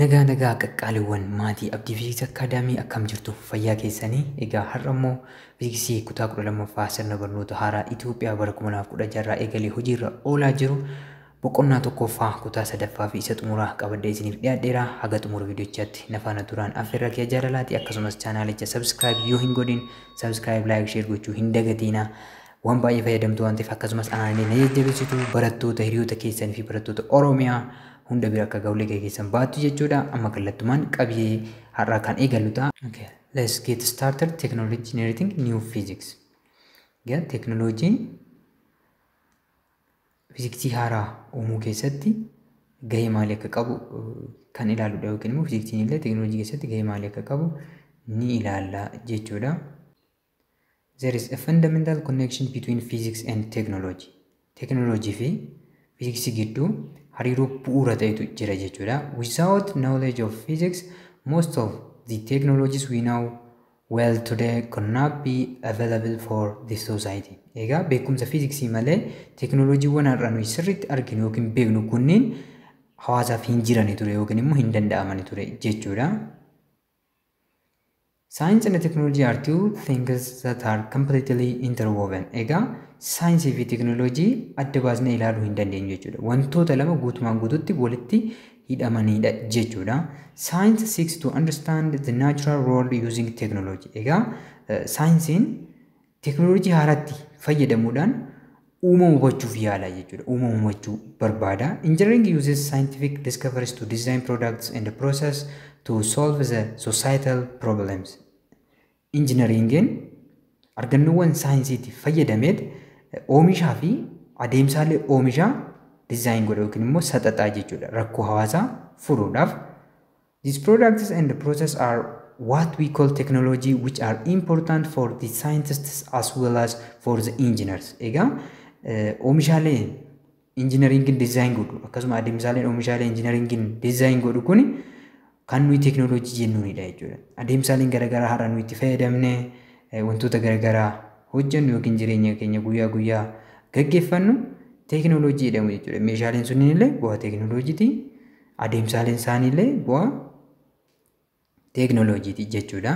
Nagaa nagaa qaqqaaliiwwan maatii Abdii Fiiziksii Akkaadaamii akkam jirtu fayyaa keessanii egaa har'a immoo fiiziksii kutaa 12ffaa sirna barnoota haaraa Itoophiyaa bara 2016 irraa eegalee hojiirra oolaa jiru boqonnaa tokkoffaa kutaa sadaffaa fi isa xumuraa qabadhee isiniif dhiyaadheera haga xumura viidiyochaatti na faana turaan affeerraa kee jaalalaati akkasumas chaanaalicha sabskiraayib yoo hin godhin sabskiraayib laayik sheer gochuu hin dagatiina Waan baay'ee fayyadamtu waan ta'eef akkasumas aanaanii na jajjabeessitu barattoota hiriyoota keessanii fi barattoota Oromiyaa hunda bira akka gahu laga keessan baattu jechuudha. Amma kallattumaan qabiyyee har'aa kan eegallu ta'a. Okay, let's get started technology generating new physics. Gaa teknolojii fiiziksii haaraa uumuu keessatti gahee maalii akka qabu kan ilaaludha yookiin immoo fiiziksiin illee teknolojii keessatti gahee maalii akka qabu ni ilaalla jechuudha. There is a fundamental connection between physics and technology. Teknolojii fi fiiziksii gidduu hariiroo bu'uura ta'etu jira jechuudha. Without knowledge of physics, most of the technologies we know well today could not be available for the society. Egaa beekumsa fiiziksii malee teknolojiiwwan har'a nuyi sirriitti arginu yookiin beeknu kunniin hawaasaaf hin jirani ture yookiin immoo hin danda'amani ture jechuudha. Science and technology are two things that are completely interwoven. Egaa saayinsii fi teknooloojii adda baasnee ilaaluu hin dandeenyu jechuudha. Wantoota lama guutumaan guututti walitti hidhamanidha jechuudha. Science seeks to understand the natural world using technology. Egaa saayinsiin Teeknooloojii haaraatti fayyadamuudhaan uumamu hubachuuf yaala jechuudha. Uumamu hubachuu barbaada. Engineering uses scientific discoveries to design products and process to solve the societal problems. Injinariingeen argannoowwan saayinsiitiif fayyadameet oomishaa fi adeemsaalee oomishaa dizaayin godha yookiin immoo saxaxaa jechuudha. Rakkoo hawaasaa furuudhaaf These products and process are what we call technology which are important for the scientists as well as for the engineers. Egaa oomishaalee injinariingiin dizaayin godhu akkasuma adeemsaaleen oomishaalee injinariingiin dizaayin godhu kun kan nuyi teeknooloojii jennuunidha jechuudha. Adeemsaaleen garaagaraa har'a nuyi itti fayyadamne wantoota garaagaraa hojjennu yookiin jireenya keenya guyyaa guyyaa gaggeeffannu teeknooloojii jedhamu jechuudha. Meeshaaleen sunniin illee bu'aa teeknooloojiiti. Adeemsaaleen isaaniillee bu'aa teeknooloojiiti jechuudha.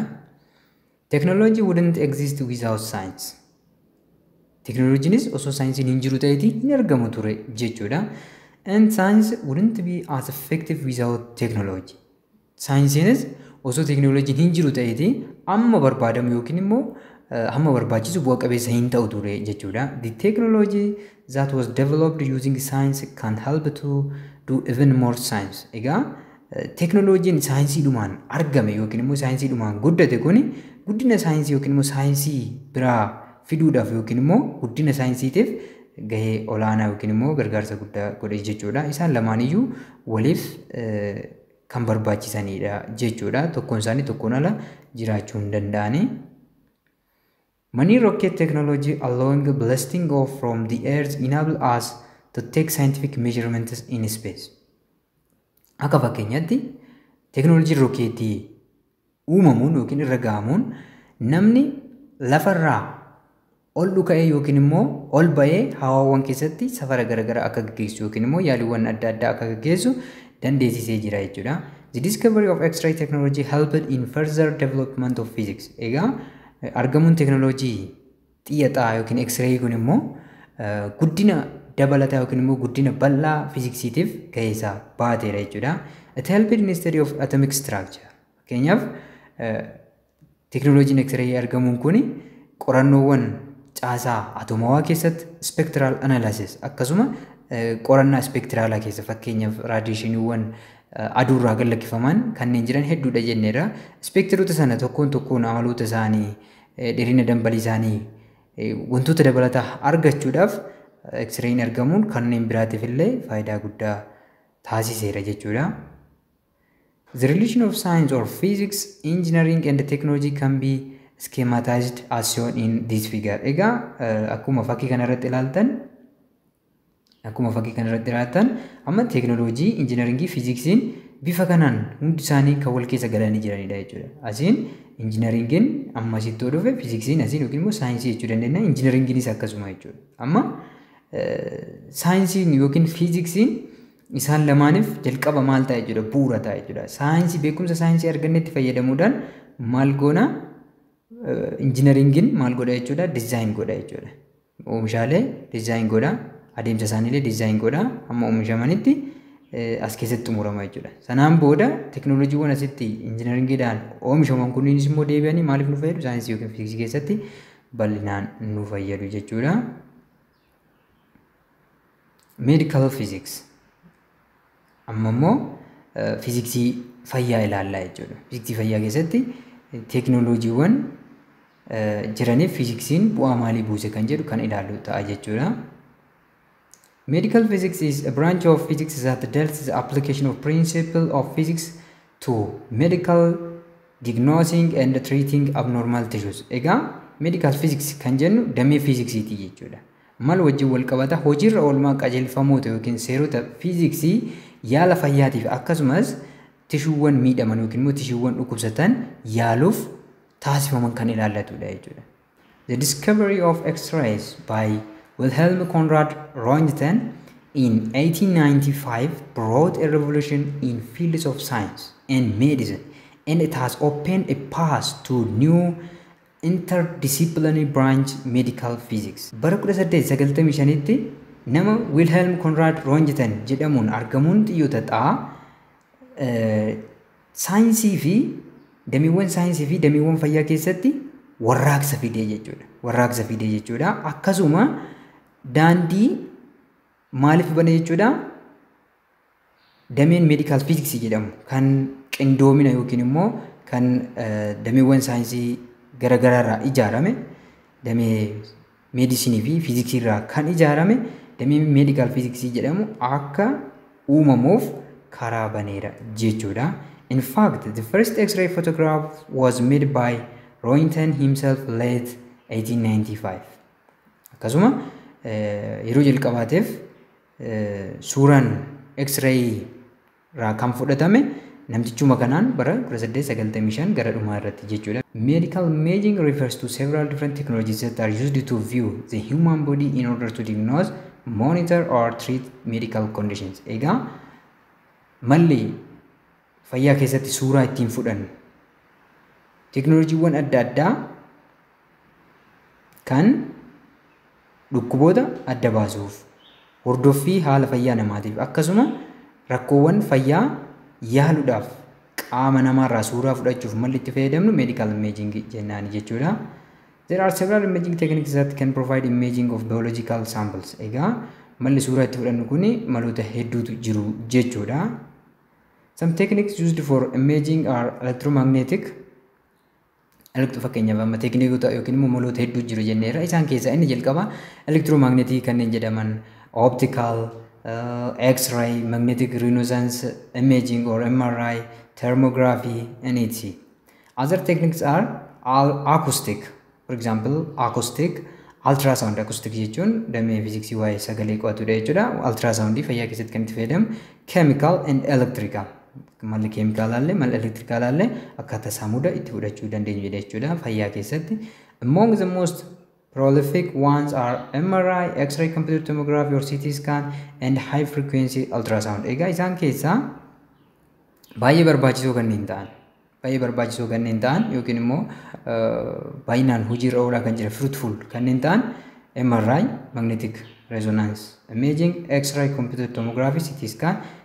Technology wouldn't exist without science. Teknooloojiinis osoo saayinsiin hin jiru ta'eeti hin argamu ture jechuudha. And science wouldn't be as effective without technology. Saayinsiinis osoo teknooloojiin hin jiru ta'eeti amma barbaadamu yookiin immoo hamma barbaachisu bu'a qabeessa hin ta'u ture jechuudha. The technology that was developed using science can help to do even more science. Egaa teknoloojiin saayinsii dhumaan argame yookiin immoo saayinsii dhumaan guddate kun guddina saayinsii yookiin immoo saayinsii biraa fiduudhaaf yookiin immoo guddina saayinsiitiif gahee olaanaa yookiin immoo gargaarsa guddaa godhe jechuudha. Isaan lamaan iyyuu waliif kan barbaachisanidha jechuudha. Tokkoon isaanii tokkoon ala jiraachuu hin danda'ani. Money Rocket Technology Allowing Blasting Off From The Earth Enable Us To Take Scientific Measurements In Space. Akka fakkeenyaatti teeknooloojiin rookeetii uumamuun yookiin irra ga'amuun namni lafarraa ol dhuka'ee yookiin immoo ol ba'ee hawaawwan keessatti safara garaagaraa akka gaggeessu yookiin immoo yaaliiwwan adda addaa akka gaggeessu dandeessisee jira jechuudha. The discovery of X-ray technology helped in further development of physics. Egaa Argamuun teeknooloojii xiyya xaa yookiin eksireeyii kun immoo guddina dabalataa yookiin immoo guddina bal'aa fiiziksiitiif gahee isaa baateera jechuudha. It helped in study of atomic structure. Fakkeenyaaf teeknooloojiin eksireeyii argamuun kun qorannoowwan caasaa atomawaa keessatti spectral analysis akkasuma qorannaa spectraalaa keessa fakkeenyaaf raadiyeeshiniiwwan aduu irraa gad lakkifaman kanneen jiran hedduudha jenneerra. Ispeekteroota sana tokkoon tokkoon amaloota isaanii, dheerina dambalii isaanii, wantoota dabalataa argachuudhaaf eksirayiin argamuun kanneen biraatiif illee faayidaa guddaa taasiseera jechuudha. The relation of science or physics, engineering and technology can be schematized as shown in this figure. Egaa akkuma fakkii kanarratti ilaaltan Akkuma fakkii kana irratti raattan amma teeknooloojii, injinaringii, fiiziksiin bifa kanaan hundi isaanii kan wal keessa galanii jiranidha jechuudha. Asiin injinaringiin amma asitti yoo dhufe fiiziksiin asiin yookiin immoo saayinsii jechuu dandeenya. Injinaringiinis akkasuma jechuudha. Amma saayinsiin yookiin fiiziksiin isaan lamaaniif jalqaba maal ta'a jechuudha bu'uura ta'a jechuudha. Saayinsii beekumsa saayinsii argannetti fayyadamuudhaan maal goona injinaringiin maal godha jechuudha dizaayin godha jechuudha. Oomishaalee design godha. Adeemsa isaaniilee design godha. Amma oomishamanitti as keessatti xumurama jechuudha. Sanaan booda teknooloojiiwwan asitti injinaringiidhaan oomishaman kunniinis immoo deebi'anii maaliif nu fayyadu? Saayinsii yookiin fiiziksii keessatti bal'inaan nu fayyadu jechuudha. Medical Physics. Amma immoo fiiziksii fayyaa ilaallaa jechuudha. Fiiziksii fayyaa keessatti teeknooloojiiwwan jiraniif fiiziksiin bu'aa maalii buuse kan jedhu kan ilaallu ta'a jechuudha. Medical physics is a branch of physics that deals the application of principle of physics to medical diagnosing and treating abnormal tissues. Egaa medical physics kan jennu damee fiiziksiiti jechuudha. Maal wajjin wal qabata? Hojiirra oolmaa qajeelfamoota yookiin seerota fiiziksii yaala fayyaatiif akkasumas tishuuwwan miidhaman yookiin immoo tishuuwwan dhukkubsatan yaaluuf taasifaman kan ilaallatudha jechuudha. The discovery of X-rays by Wilhelm Conrad Roentgen in 1895 brought a revolution in fields of science and medicine and it has opened a path to new Interdisciplinary Branch Medical Physics. Bara 1895tti nama Wilhelm Conrad Roentgen jedhamuun argamuun xiyyoota xaa saayinsii fi dameewwan saayinsii fi dameewwan fayyaa keessatti warraaqsa fidee jechuudha. Warraaqsa fidee jechuudha. Akkasuma daandii maaliif bane jechuudha? Dameen Medical Physics jedhamu kan qindoomina yookiin immoo kan dameewwan saayinsii gara garaarraa ijaarame damee meedisinii fi fiiziksii irraa kan ijaarame damee meedikaal fiiziksii jedhamu akka uumamuuf karaa baneera jechuudha. In fact, the first X-ray photograph was made by Roentgen himself late 1895. Akkasuma yeroo jalqabaatiif suuraan X-ray irraa kan fudhatame namtichuma kanaan bara 1895 gara dhumaa irratti jechuudha. Medical imaging refers to several different technologies that are used to view the human body in order to diagnose, monitor or treat medical conditions. Egaa malli fayyaa keessatti suuraa ittiin fudhannu teknooloojiiwwan adda addaa kan dhukkuboota adda baasuuf, hordoffii haala fayyaa namaatiif akkasuma rakkoowwan fayyaa yaaluudhaaf qaama namaarraa suuraa fudhachuuf malli itti fayyadamnu medical imaging jennaani jechuudha. There are several imaging techniques that can provide imaging of biological samples. Egaa malli suuraa itti fudhannu kun maloota hedduutu jiru jechuudha. Some techniques used for imaging are electromagnetic, Elektiroo fakkeenyaaf amma teeknikoota yookiin immoo maloota hedduu jiru jenneerra. Isaan keessaa inni jalqabaa elektiroomagneetii kanneen jedhaman optical, x-ray, magnetic resonance imaging or MRI, thermography iniiti. Other techniques are all acoustic. For example, acoustic, ultrasound acoustic jechuun damee fiiziksii waa'ee sagalee qo'atudha jechuudha. Ultrasound fayyaa keessatti kan itti fayyadamu chemical and electrical. Malli keemikaalaallee malli elektirikaalaallee akkaataa saamuda itti fudhachuu dandeenyu jedha jechuudha fayyaa keessatti. Among the most prolific ones are MRI, X-ray computed tomography or CT scan and high frequency ultrasound. Egaa isaan keessaa baay'ee barbaachisoo kanneen ta'an baay'ee barbaachisoo kanneen ta'an yookiin immoo baay'inaan hojiirra oolaa kan jiran fruitful kanneen ta'an MRI, magnetic resonance imaging, X-ray computed tomography, CT scan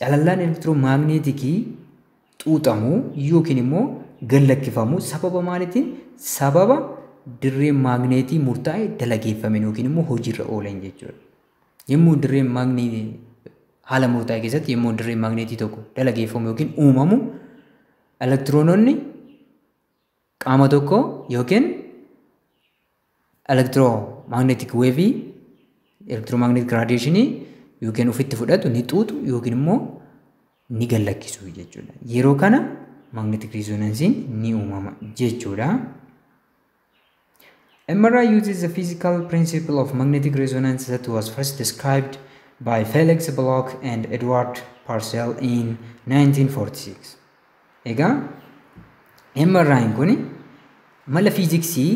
Calallaan elektiromaagneetikii xuuxamu yookiin immoo gallakkifamu sababa maalitiin sababa dirreen maagneetii murtaa'e dalageeffame yookiin immoo hojiirra ooleen jechuudha. Yommuu dirreen maagneetii haala murtaa'e keessatti yommuu dirreen maagneetii tokko dalageeffamu yookiin uumamu elektiroononni Qaama tokko yookiin elektiroomagneetik weevii elektiroomagneetik raadiyeeshinii yookiin ofitti fudhatu ni xuuxu yookiin immoo ni gallakkisu jechuudha. Yeroo kana magneetik riizoonansiin ni uumama jechuudha. MRI uses the physical principle of magnetic resonance that was first described by Felix Bloch and Edward Purcell in 1946. Egaa MRI'n kun mala fiiziksii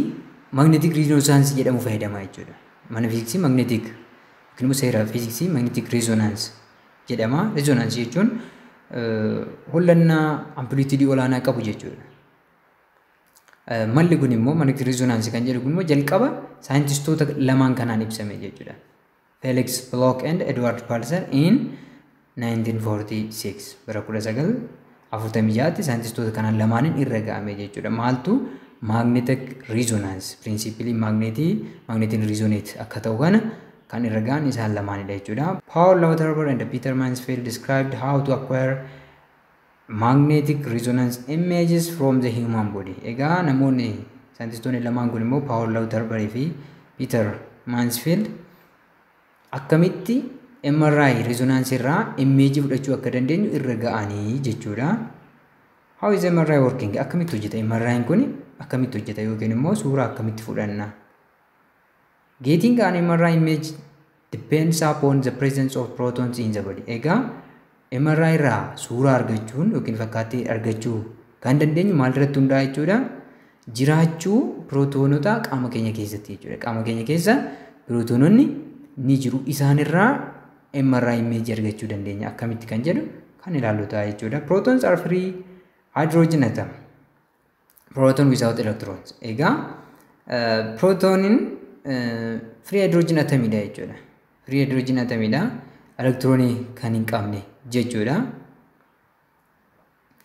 magneetik riizoonaansii jedhamu fayyadama jechuudha. Mana fiiziksii magneetik yookiin immoo seera fiiziksii magneetik riizoonaansii jedhama. Riizoonaansii jechuun hollannaa amplituudii olaanaa qabu jechuudha. Malli kun immoo magneetik riizoonaansii kan jedhu kun immoo jalqaba saayintistoota lamaan kanaan ibsame jechuudha. Felix Block and Edward Pulser in 1946 bara 1946tti saayintistoota kanaan lamaaniin irra ga'ame jechuudha. Maaltu magnetic resonance piriinsiipilii magneetii magneetiin resonate akka ta'u kana kan irra ga'an isaan lamaanidha jechuudha. Paul Lauterbach and Peter Mansfield described how to acquire Magnetic Resonance Images from the Human Body. Egaa namoonni saayintistoonni lamaan kun immoo Paawul Lauterbury fi Piiter Maansfield akkamitti MRI resonance irraa immeejii fudhachuu akka dandeenyu irra ga'anii jechuudha. How is MRI working? Akkamitti hojjeta? MRI'n kun akkamitti hojjeta yookiin immoo suuraa akkamitti fudhanna? Getting an MRI image depends upon the presence of protons in the body. Egaa MRI irraa suuraa argachuun yookiin fakkaattii argachuu kan dandeenyu maalirratti hundaa'a jechuudha? Jiraachuu pirootoonota qaama keenya keessatti jechuudha. Qaama keenya keessa pirootoononni ni jiru. Isaanirraa MRI image argachuu dandeenya. Akkamitti kan jedhu kan ilaallu ta'a jechuudha. Protons are free hydrogen atom. proton without electrons egaa protonin free hydrogen atomidha jechuudha free hydrogen atomidha electroni kan hin qabne jechuudha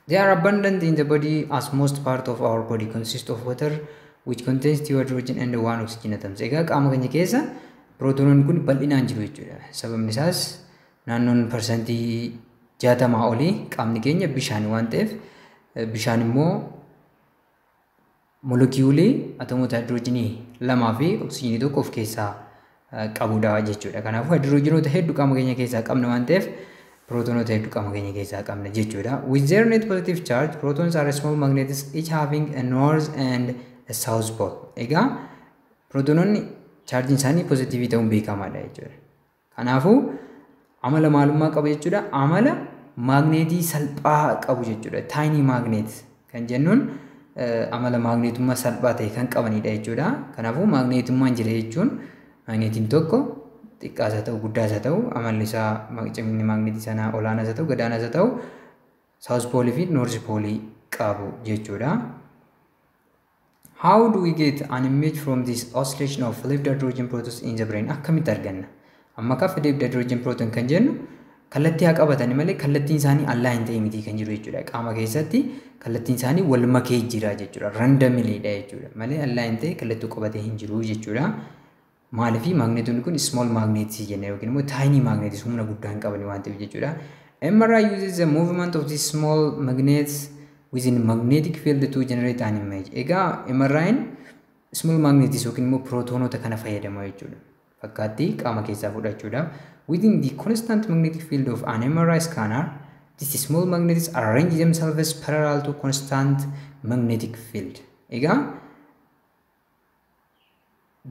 They are abundant in the body as most part of our body consists of water which contains two hydrogen and one oxygen atoms. Egaa qaama keenya keessa pirootonoonni kun bal'inaan jiru jechuudha. Sababni isaas naannoon parsantii jaatamaa olii qaamni keenya bishaan waan ta'eef bishaan immoo molekiyuulii atomoota haayidiroojinii lamaa fi oksijiinii tokko of keessaa qabudha jechuudha. Kanaafuu haayidiroojinoota hedduu qaama keenya keessaa qabna waan ta'eef pirootonoota hedduu qaama keenya keessaa qabna jechuudha. With their net positive charge, protons are small magnets each having a north and a south pole. Egaa pirootonoonni chaarjiin isaanii pozitiivii ta'uun beekamaadha jechuudha. Kanaafuu amala maalummaa qabu jechuudha. Amala maagneetii salphaa qabu jechuudha. Taayinii maagneet kan jennuun amala maagneetummaa salphaa ta'e kan qabanidha jechuudha. Kanaafuu maagneetummaan jira jechuun maagneetiin tokko xiqqaas haa ta'u guddaas haa ta'u amalli isaa cimni maagneetii sanaa olaanaas haa ta'u gadaanaas haa ta'u saawus poolii fi noorzi poolii qabu jechuudha. How do we get an image from this oscillation of left hydrogen protons in the brain? Akkamitti arganna? Amma kafa left hydrogen proton kan jennu kallattii haa qabatani malee kallattiin isaanii allaa hin ta'e miti kan jiru jechuudha. Qaama keessatti kallattiin isaanii wal makee jira jechuudha. Randamiliidha jechuudha. Malee allaa hin ta'e kallattuu qabatee hin jiru jechuudha. Maaliif maagneetonni kun small magnets jenna yookiin immoo tiny magnets humna guddaa hin qabani waan ta'eef jechuudha. MRI uses the movement of these small magnets within magnetic field to generate an image. Egaa MRI'n small magnets yookiin immoo pirootoonota kana fayyadama jechuudha. Fakkaattii qaama keessaa fudhachuudhaaf. Within the constant magnetic field of an MRI scanner, these small magnets arrange themselves parallel to constant magnetic field. Egaa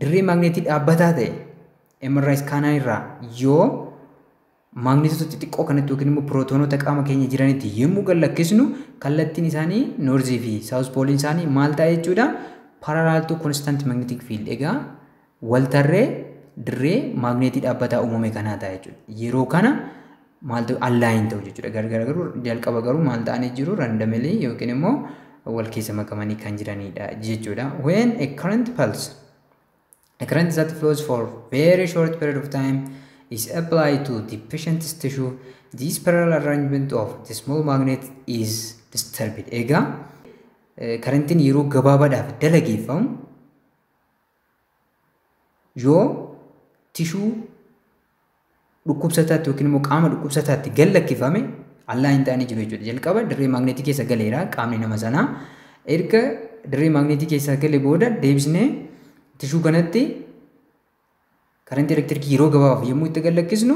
dirree maagneetii dhaabbataa ta'e emerraa iskaanaa irraa yoo maagneetota xixiqqoo kanatti yookiin immoo pirootoonota qaama keenya jiranitti yommuu gad lakkisnu kallattiin isaanii noorzii fi saawus pooliin isaanii maal ta'a jechuudha paralaaltuu konstant magneetik fiild egaa waltarree dirree maagneetii dhaabbataa uumame kanaa ta'a jechuudha yeroo kana maal ta'u allaayin ta'u jechuudha gargara garuu jalqaba garuu maal ta'anii jiru randomly yookiin immoo wal keessa makamanii kan jiranidha jechuudha when a current pulse a current that flows for very short period of time is applied to the patient's tissue this parallel arrangement of the small magnet is disturbed egaa karantiin yeroo gabaabaadhaaf dalageeffamu yoo tishuu dhukkubsataatti yookiin immoo qaama dhukkubsataatti gad lakkifame allaa hin taane jiru jechuudha. Jalqaba dirree maagneetii keessa galeera qaamni nama sanaa. Erga dirree maagneetii keessaa gale booda deebisnee tishuu kanatti Karantii elektirikii yeroo gabaabaaf yommuu itti gad lakkisnu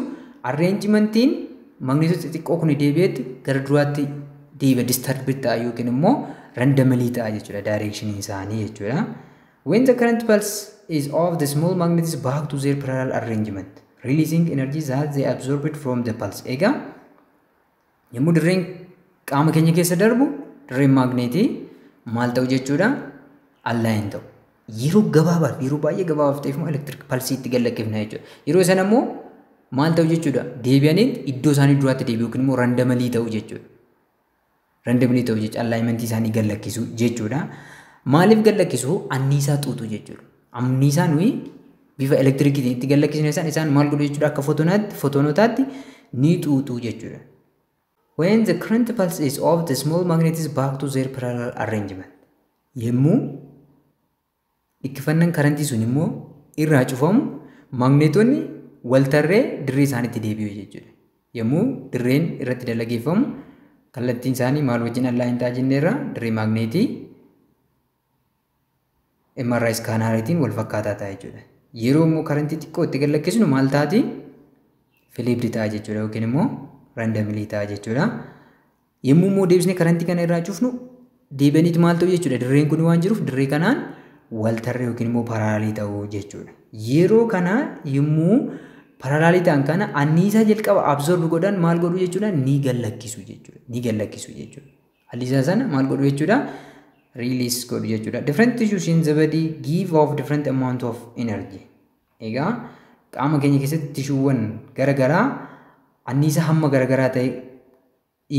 arreenjimantiin magneetota xixiqqoo kun deebi'eetti gara duraatti deebi'a disturbed ta'a yookiin immoo randamalii ta'a jechuudha daayireekshiniin isaanii jechuudha. When the current pulse is of the small magnets back to their parallel arrangement releasing energy that they absorbed from the pulse. Egaa Yommuu dirreen qaama keenya keessa darbu dirreen maagneetii maal ta'u jechuudha? Allaayin ta'u. Yeroo gabaabaaf yeroo baay'ee gabaabaaf ta'eef immoo elektiriik palsii itti gallakkifna jechuudha. Yeroo sana immoo maal ta'u jechuudha? Deebi'anii iddoo isaanii duraatti deebi'u yookiin immoo randamalii ta'u jechuudha. Randamalii ta'u jechuudha allaayimentii isaanii gallakkisu jechuudha. Maaliif gallakkisu? Anniisaa xuuxu jechuudha. Anniisaa nuyi bifa elektirikiitiin itti gallakkisne san isaan maal godhu jechuudha akka fotoonaatti fotoonotaatti ni xuuxu jechuudha. When the current pulse is off the small magnet is back to their parallel arrangement. Yemmuu dhikkifannan karantii sun immoo irraa cufamu maagneetonni waltarree dirree isaanitti deebi'u jechuudha. Yemmuu dirreen irratti dalageeffamu kallattiin isaanii maal wajjin allaa hin taajinneerra dirree maagneetii MRI iskaanariitiin wal fakkaataa ta'a jechuudha. Yeroo immoo karantii xiqqoo itti gallakkisnu maal taati? Filiipdi ta'a jechuudha yookiin immoo randamilii ta'a jechuudha. Yommuu immoo deebisnee karantii kana irraa cufnu deebi'aniit maal ta'u jechuudha dirreen kun waan jiruuf dirree kanaan wal tarree yookiin immoo paraalaalii ta'u jechuudha. Yeroo kana yommuu paraalaalii ta'an kana anniisaa jalqaba absorb godhan maal godhu jechuudha ni gallakkisu jechuudha ni gallakkisu jechuudha. Hadiisa sana maal godhu jechuudha? Release godhu jechuudha. Different tissues in the body give off different amount of energy. Egaa qaama keenya keessatti tishuuwwan garagaraa anniisa hamma garagaraa ta'e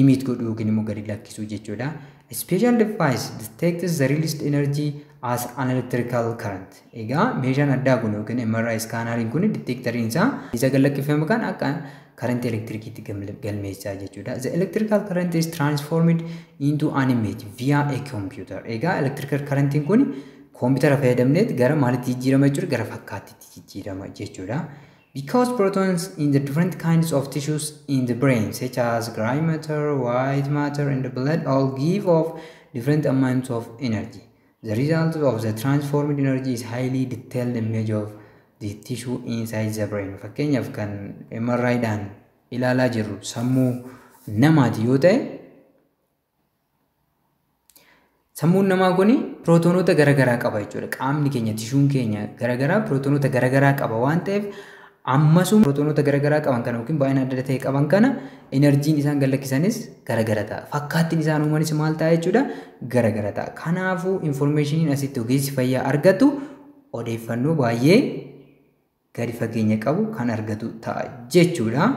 imiit godhu yookiin immoo gadi lakkisuu jechuudha. Special device detects the released energy as an electrical current. Egaa meeshaan addaa kun yookiin MRI iskaanariin kun diteektariin isaa isa gallakkifame kan akka karantii elektirikiitti galmeessaa jechuudha. The electrical current is transformed into an image via a computer. Egaa electrical karantiin kun koompitara fayyadamneet gara maalitti jijjiirama jechuudha gara fakkaattiitti jijjiirama jechuudha. Because protons in the different kinds of tissues in the brain such as gray matter, white matter and blood all give off different amounts of energy. The results of the transformed energy is highly detailed image of the tissue inside the brain. Fakkeenyaaf kan MRI dhaan ilaalaa jirru sammuu namaati yoo ta'e sammuun namaa kun pirootoonota garaagaraa qaba jechuudha. Qaamni keenya tishuun keenya garaagaraa pirootoonota garaagaraa qaba waan ta'eef Ammasuma pirootoonota gara garaa qaban kana yookiin baay'ina adda adda ta'e qaban kana inarjiin isaan gad lakkisanis gara gara ta'a. Fakkaattiin isaan uumanis maal ta'a jechuudha? Gara gara ta'a. Kanaafuu infoormeeshiniin asitti ogeessi fayyaa argatu odeeffannoo baay'ee gadi fageenya qabu kan argatu ta'a jechuudha.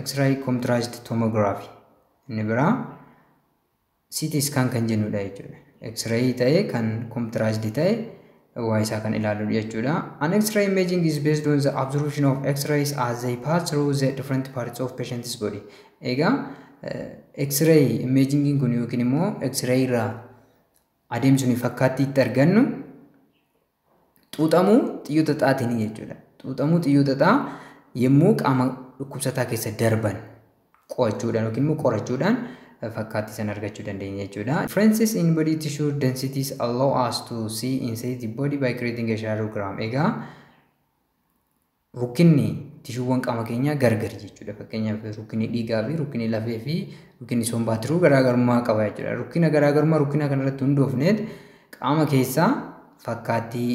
X-ray contrast tomography inni biraa CT scan kan jennudha jechuudha. X-ray ta'e kan computerized ta'e waa isaa kan ilaaludha jechuudha. An X-ray imaging is based on the absorption of X-rays as they pass through the different parts of patient's body. Egaa X-ray imagingiin kun yookiin immoo X-ray irraa adeemsuun fakkaattii itti argannu Xuuxamuu xiyyoota xaxaatiin jechuudha. Xuuxamuu xiyyoota xaxaa yommuu qaama dhukkubsataa keessa darban qo'achuudhaan yookiin immoo qorachuudhaan eh, fakkaattii sana argachuu dandeenya jechuudha. Differences in body tissue densities allow us to see inside the body by creating a shadowgram. Egaa Rukkinni tishuuwwan qaama keenyaa gargari jechuudha. Fakkeenyaaf rukkinni dhiigaa fi rukkinni lafee fi rukkinni sombaa tiruu garaagarummaa qaba jechuudha. Rukkina garaagarummaa rukkina kanarratti hundoofneet qaama keessaa fakkaattii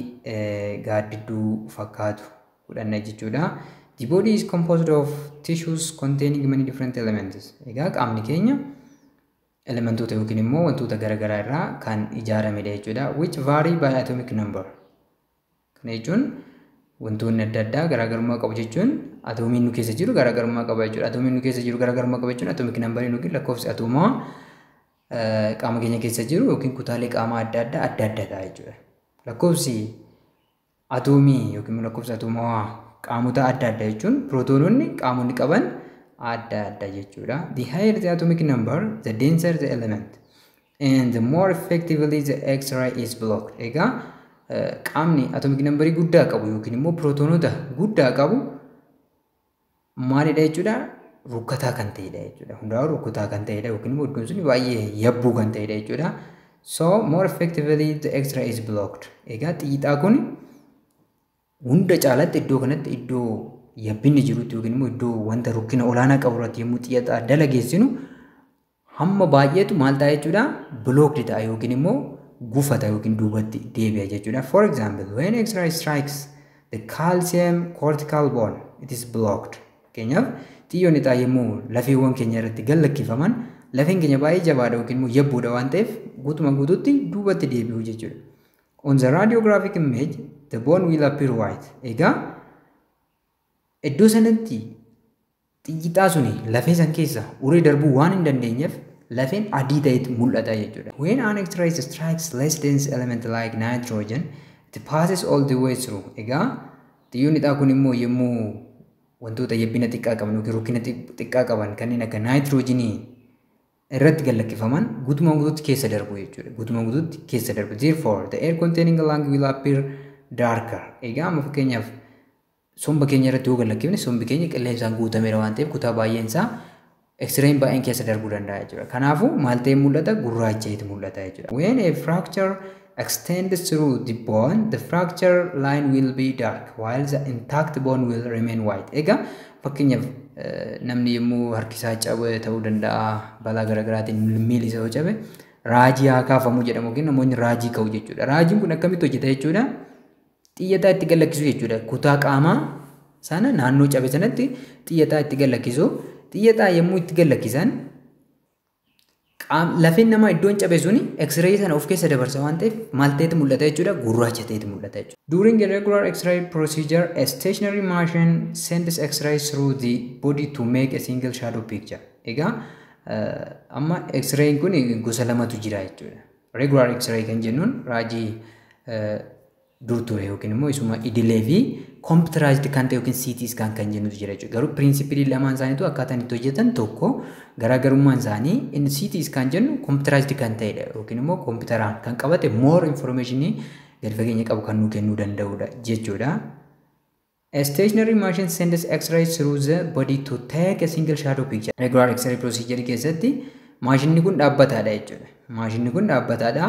gaaddidduu fakkaatu godhanna jechuudha. The body is composed of tissues containing many different elements. Egaa qaamni keenya elementoota yookiin immoo wantoota garaagaraa irraa kan ijaaramedha jechuudha. Which vary by atomic number. Kana jechuun wantoonni adda addaa garaagarummaa qabu jechuun atoomiin nu keessa jiru garaagarummaa qaba jechuudha. Atoomiin nu keessa jiru garaagarummaa qaba jechuun atoomik nambariin yookiin lakkoofsi atoomaa qaama keenya keessa jiru yookiin kutaalee qaamaa adda addaa adda adda ta'a jechuudha. Lakkoofsi atoomii yookiin lakkoofsi atoomaa qaamota adda addaa jechuun pirootoononni qaamonni qaban adda adda jechuudha. The higher the atomic number, the denser the element. and the more effectively the X-ray is blocked. Egaa qaamni atomic number guddaa qabu yookiin immoo pirootoonota guddaa qabu maalidha jechuudha rukkataa kan ta'edha jechuudha. Hundaa'u rukkataa kan ta'edha yookiin immoo iddoon sun baay'ee yabbuu kan ta'edha jechuudha. So more effectively the X-ray is blocked. Egaa xiixaa kun hunda caalatti iddoo kanatti iddoo yabbinni jirutti yookiin immoo iddoo wanta rukkina olaanaa qabu irratti yommuu xiixaa dalageessinu hamma baay'eetu maal ta'a jechuudha blocked ta'a yookiin immoo gufata yookiin duubatti deebi'a jechuudha. For example, when X-ray strikes the calcium cortical bone, it is blocked. Fakkeenyaaf xiyyoon lixaa yommuu lafeewwan keenya irratti gad lakkifaman lafeen keenya baay'ee jabaadha yookiin immoo yabbuudha waan ta'eef guutuma guututti duubatti deebi'u jechuudha. On the radiographic image, the bone will appear white. Egaa iddoo sanatti Xiyyixaa suni lafee san keessa uree darbuu waan hin dandeenyeef lafeen adii ta'etti mul'ata jechuudha. When an X-ray strikes less dense element like nitrogen, it passes all the way through. Egaa xiyyoonni xaa kun immoo yommuu wantoota yabbina xiqqaa qaban yookiin rukkina xiqqaa qaban kanneen akka naayitiroojiinii irratti gallakkifaman guutumaan guutuutti keessa darbu jechuudha. Guutumaan guutuutti keessa darbu. Therefore, the air containing lung will appear darker. Egaa amma fakkeenyaaf Somba keenya irratti yoo gad lakkifne sombi keenya qilleensaan guutameera waan ta'eef kutaa baay'een isaa X-rayin baay'een keessa darbuu danda'a jechuudha. Kanaafuu maal ta'ee mul'ata? Gurraacha'eetu mul'ata jechuudha. When a fracture extends through the bone, the fracture line will be dark while the intact bone will remain white. Egaa fakkeenyaaf namni yommuu harkisaa cabe ta'uu danda'a balaa garaagaraatiin miilli isaa yoo cabe raajii haa kaafamu jedhamu yookiin namoonni raajii ka'u jechuudha. Raajiin kun akkamitti hojjeta jechuudha? Xiyyataa itti gallakkisuu jechuudha. Kutaa qaamaa sana naannoo cabe sanatti xiyyataa itti gallakkisu. Xiyyataa yommuu itti gallakkisan lafeen namaa iddoon cabe suni x-ray sana of keessa dabarsa waan ta'eef maal ta'eeti mul'ata jechuudha gurraacha ta'eeti mul'ata jechuudha. During a regular x-ray procedure, a stationary machine sends x-ray through the body to make a single shadow picture. Egaa amma x-rayin kun gosa lamatu jira jechuudha. Regular X-ray kan jennuun raajii dur ture yookiin immoo isuma idilee fi computerized kan ta'e yookiin CT scan kan jennutu jira jechuudha. Garuu pirinsipilii lamaan isaaniitu akkaataan itti hojjetan tokko garaagarummaan isaanii inni CT scan jennu computerized kan ta'edha yookiin immoo kompitaraan kan qabate more information gadi fageenya qabu kan nuu kennuu danda'udha jechuudha. A stationary machine sends X-ray through the body to take a single shadow picture. Regular X-ray procedure keessatti maashinni kun dhaabbataadha jechuudha. Maashinni kun dhaabbataadha.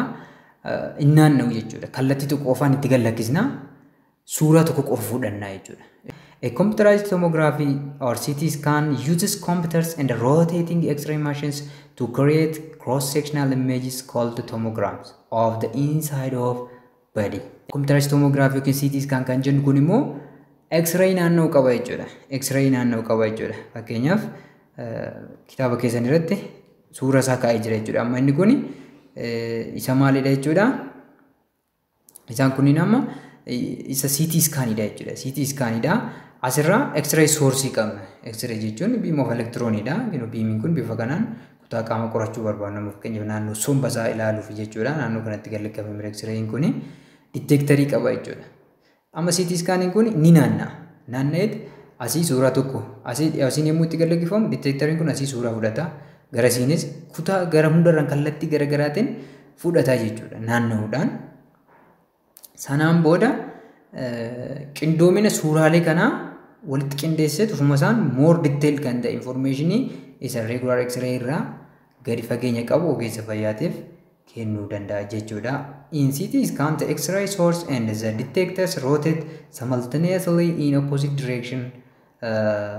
Inni naanna'u jechuudha. Kallattii tokko qofaan itti gad lakkisna. Suuraa tokko qofa fudhanna jechuudha. A computerized tomography or CT scan uses computers and rotating X-ray machines to create cross-sectional images called tomograms of the inside of bade. Computerized tomograph yookiin CT scan kan jennu kun immoo X-ray naannoo qaba jechuudha. X-ray naannoo qaba jechuudha. Fakkeenyaaf kitaaba keessan irratti suura isaa kaa'ee jira jechuudha. Amma inni kun isa maalidha jechuudha? Isaan kunniin amma isa CT scanidha jechuudha. CT scanidha. Asirraa X-ray source qabna. X-ray jechuun biima of elektiroonidha. Biimiin kun bifa kanaan kutaa qaama qorachuu barbaadnu amma fakkeenyaaf naannoo somba isaa ilaaluuf jechuudha. Naannoo kanatti kan liqamame X-rayin kun diteektarii qaba jechuudha. Amma CT iskaaniin kun ni naanna'a. Naanna'eet asii suuraa tokko asii asiin yommuu itti gallakkifamu diteektariin kun asii suuraa fudhata. Garasiinis kutaa gara hundarraan kallattii garagaraatiin fudhata jechuudha. Naanna'uudhaan Sanaan booda qindoomina suuraalee kanaa walitti qindeessee ofuma isaan more detailed kan ta'e informationii isa regular x-ray irraa gadi fageenya qabu ogeessa fayyaatiif kennuu danda'a jechuudha. In CT scan the x-ray source and the detectors rotate simultaneously in opposite direction uh,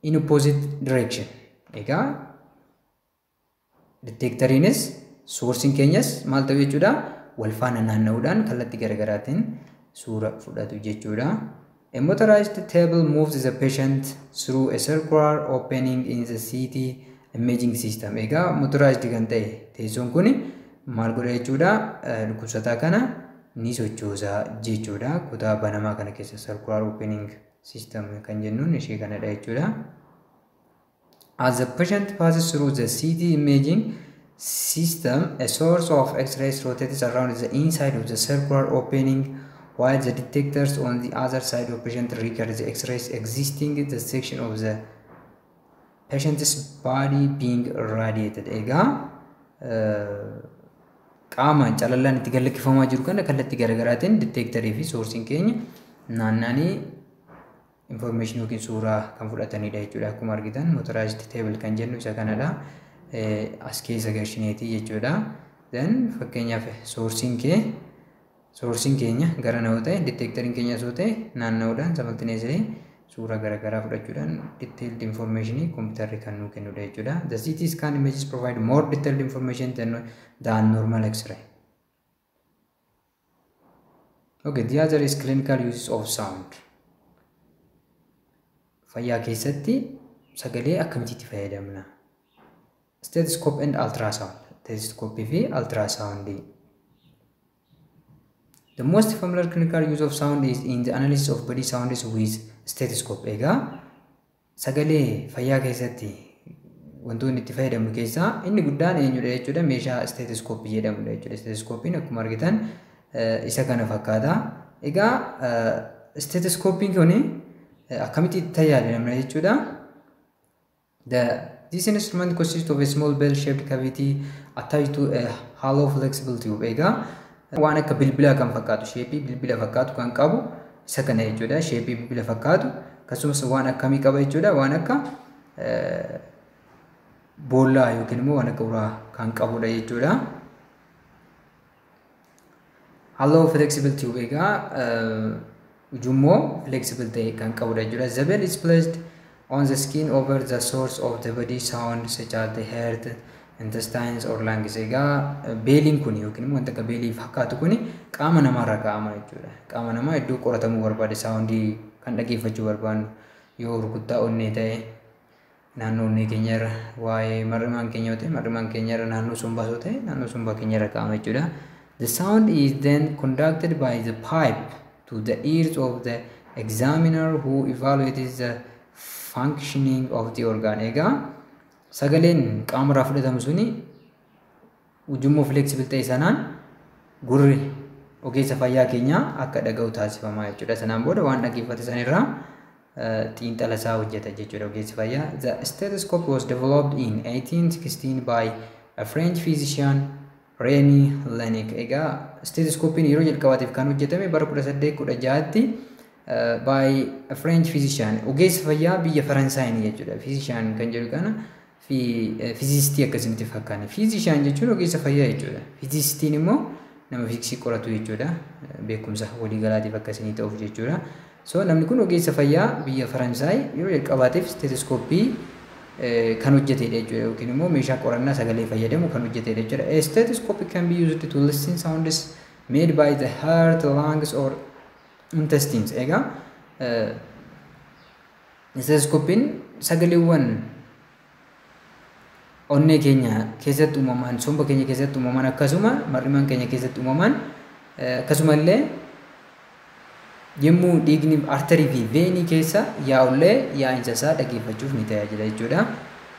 in opposite direction. Egaa Detectoriinis source'n keenyas maal ta'u jechuudha wal faana naanna'uudhaan kallattii garaagaraatiin suura fudhatu jechuudha. A motorized table moves the patient through a circular opening in the CT imaging system. Egaa motorized kan ta'e teessoon kun maal godha jechuudha dhukkubsataa kana ni sochoosa jechuudha. Kutaa banamaa kana keessa circular opening system kan jennuun ishee kanadha jechuudha. As the patient passes through the CT imaging system, a source of X-rays rotates around the inside of the circular opening, while the detectors on the other side of patient record the X-rays existing in the section of the patient's body being radiated. Egaa qaamaan calallaan itti gallakkifamaa jiru kana kallattii garaagaraatiin detectorii fi soorsiin keenya naannanii information yookiin suuraa kan fudhatanidha jechuudha. Akkuma argitan motorized table kan jennu isa kanadha. As keessa galchineeti jechuudha. Then fakkeenyaaf sourcing kee sourcing keenya gara na'u ta'e detectoring keenya osoo ta'e naanna'uudhaan samaltineesee suuraa garaagaraa fudhachuudhaan detailed information kompiitarri kan nuu kennudha jechuudha. The CT scan images provide more detailed information than, than normal X-ray. Okay, the other is clinical uses of sound. Fayyaa keessatti sagalee akkamitti fayyadamna? Stethoscope and ultrasound. Stethoscope fi ultrasound. The most familiar clinical use of sound is in the analysis of body sounds with stethoscope. Egaa Sagalee fayyaa keessatti wantoonni itti fayyadamnu keessaa inni guddaan eenyudha jechuudha meeshaa isteetiskooppii jedhamudha jechuudha. Isteetiskooppiin akkuma argitan isa kana fakkaata. Egaa isteetiskooppiin kun akkamitti itti tajaajilamna jechuudha. The This instrument consists of a small bell-shaped cavity attached to a hollow flexible tube. Egaa waan akka bilbilaa kan fakkaatu sheepii bilbila fakkaatu kan qabu isa kana jechuudha sheepii bilbila fakkaatu akkasumas waan akkamii qaba jechuudha waan akka boollaa yookiin immoo waan akka uraa kan qabudha jechuudha. Halloo flexible tube egaa ujummoo flexible ta'e kan qabudha jechuudha. The bell is placed on the skin over the source of the body sound such as the heart, intestines or lungs. Egaa beeliin kun yookiin immoo wanta akka beelii fakkaatu kun qaama namaarra kaa'ama jechuudha. Qaama namaa iddoo qoratamuu barbaade saawundii kan dhageeffachuu barbaannu yoo rukuttaa onnee ta'e naannoo onnee keenya irra waa'ee mar'imaan keenya yoo ta'e mar'imaan keenya irra naannoo sombaa yoo ta'e naannoo sombaa keenya irra kaa'ama jechuudha. The sound is then conducted by the pipe to the ears of the examiner who evaluates the functioning of the organ. Egaa sagaleen qaama irraa fudhatamu suni Ujummoo flexible ta'e sanaan gurri ogeessa fayyaa keenyaa akka dhaga'u taasifamaa jechuudha. Sanaan booda waan dhageeffate sanirraa xiinxala isaa hojjeta jechuudha ogeessi fayyaa. The stethoscope was developed in 1816 by a French physician Remy Laennec. Egaa stethoscope'n yeroo jalqabaatiif kan hojjetame bara 1816tti by a French physician ogeessa fayyaa biyya Faransaayini jechuudha. Physician kan jedhu kana fi fiizistii akkasii miti fakkaanne. Fiizishaan jechuun ogeessa fayyaa jechuudha. Fiizistiin immoo nama fiiksii qoratu jechuudha. Beekumsa waliigalaatiif akkasii ta'uuf jechuudha. So namni kun ogeessa fayyaa biyya Faransaay yeroo jalqabaatiif isteetoskooppii kan hojjetedha jechuudha yookiin immoo meeshaa qorannaa sagalee fayyadamu kan hojjetedha jechuudha. A stethoscope can be used to listen sounds made by the heart, lungs or intestines. Egaa Isteetoskoopiin sagaleewwan onnee keenya keessatti uumaman, somba keenya keessatti uumaman akkasuma mar'imaan keenya keessatti uumaman akkasuma illee yommuu dhiigni arterii fi veenii keessa yaa'ullee yaa'insa isaa dhageeffachuuf ni tajaajila jechuudha.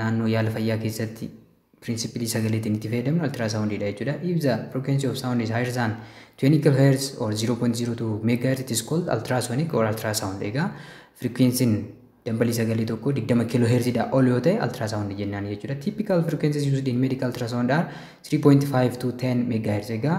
naannoo yaala fayyaa keessatti pirinsipilii sagaleetiin itti fayyadamnu altiraasawundiidha jechuudha. If the frequency of sound is higher than 20 kHz or 0.02 MHz it is called ultrasonic or ultrasound. Egaa frequency'n dambalii sagalee tokko 20 kHz dha ol yoo ta'e ultrasound jennaan jechuudha. Typical frequencies used in medical ultrasound are 3.5 to 10 MHz. Egaa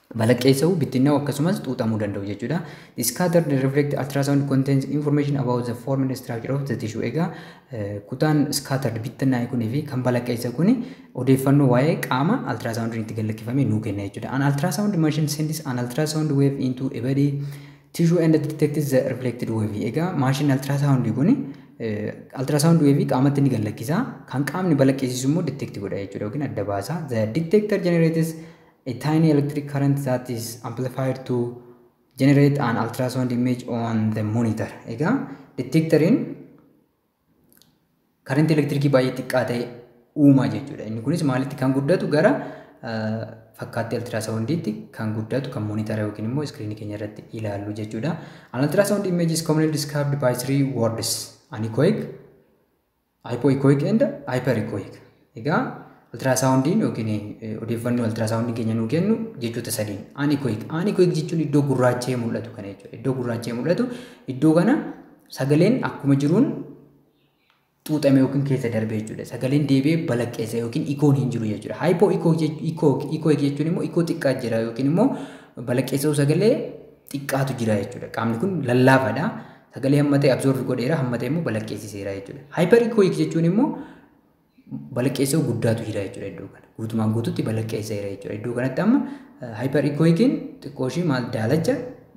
balaqqeessa'u, bittinnaa'u akkasumas xuuxamuu danda'u jechuudha. The scattered reflect ultrasound contains information about the form and structure of the tissue. Egaa kutaan scattered bittinnaa'e kunii fi kan balaqqeessa kuni odeeffannoo waa'ee qaama ultrasoundiin itti gallakkifame nuu kenna jechuudha. An ultrasound machine sends an ultrasound wave into a body tissue and detects the reflected wave. Egaa maashinni ultrasound kuni ultrasound wave qaamatti ni gallakkisa. Kan qaamni balaqqeessisu immoo detect godha jechuudha yookiin adda baasa. The detector generates A tiny electric current that is amplified to generate an ultrasound image on the monitor. Egaa detectoriin karantii elektirikii baay'ee xiqqaa ta'e uumaa jechuudha. Inni kunis maalitti kan guddatu gara fakkaattii altiraasaawundiitti kan guddatu kan moonitara yookiin immoo iskiriinii keenya irratti ilaallu jechuudha. An altiraasaawundi image is commonly described by three words. Anechoic, Hypoechoic and hyperechoic. Egaa altiraasaawundiin yookiin odeeffannoo altiraasaawundiin keenya nuu kennu jechoota sadiin. Anechoic. Anechoic jechuun iddoo gurraacha'ee mul'atu kana jechuudha. Iddoo gurraacha'ee mul'atu iddoo kana sagaleen akkuma jiruun xuuxame yookiin keessa darbe jechuudha. Sagaleen deebi'ee balaqqeessa yookiin ikoon hin jiru jechuudha. Hypoechoic jechuun immoo ikoo xiqqaa jira yookiin immoo balaqqeessa'uu sagalee xiqqaatu jira jechuudha. Qaamni kun lallaafaadha. Sagalee hammatee absorb godheera, hammatee immoo balaqqeessiseera jechuudha. Hyper echoic jechuun immoo balaqqeessoo guddaatu jira jechuudha iddoo kana. Guutumaan guututti balaqqeesseera jechuudha. Iddoo kanatti amma hyper echoicin xiqqoo ishii maal daalacha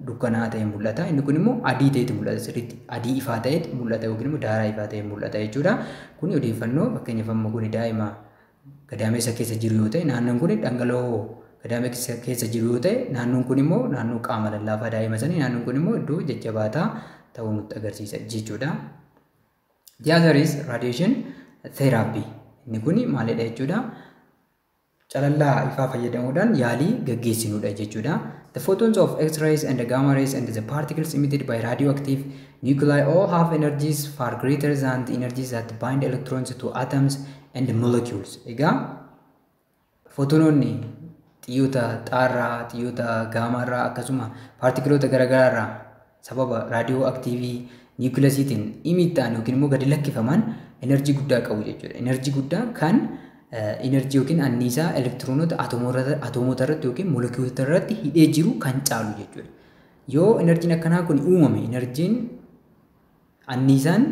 dukkanaa ta'e mul'ata. Inni kun immoo adii ta'etu mul'ata sirriitti. Adii ifaa ta'etu mul'ata yookiin immoo daaraa ifaa ta'e mul'ata jechuudha. Kuni odeeffannoo fakkeenyaaf amma kuni daa'ima gadaamessa keessa jiru yoo ta'e naannoon kun dhangala'oo gadaamessa keessa jiru yoo ta'e naannoon kun immoo naannoo qaama lallaafaa daa'ima sanii naannoon kun immoo iddoo jajjabaataa ta'uu nutti agarsiisa jechuudha. The other is radiation therapy. Inni kun maalidha jechuudha? Calallaa ifaa fayyadamuudhaan yaalii gaggeessinudha jechuudha. The photons of X-rays and the gamma rays and the particles emitted by radioactive nuclei all have energies far greater than the energies that bind electrons to atoms and molecules egaa footonoonni xiyyoota xaarraa xiyyoota gaamaarraa akkasuma paartikiloota garaagaraarraa sababa raadiyoo aktiivii niwukiilasiitiin imiittaan yookiin immoo gadi lakkifaman enerjii guddaa qabu jechuudha. Enerjii guddaa kan enerjii yookiin anniisaa elektiroonota atoomoota irratti yookiin molekiyuulota irratti hidhee jiru kan caalu jechuudha. Yoo enerjiin akkanaa kun uumame enerjiin Anniisaan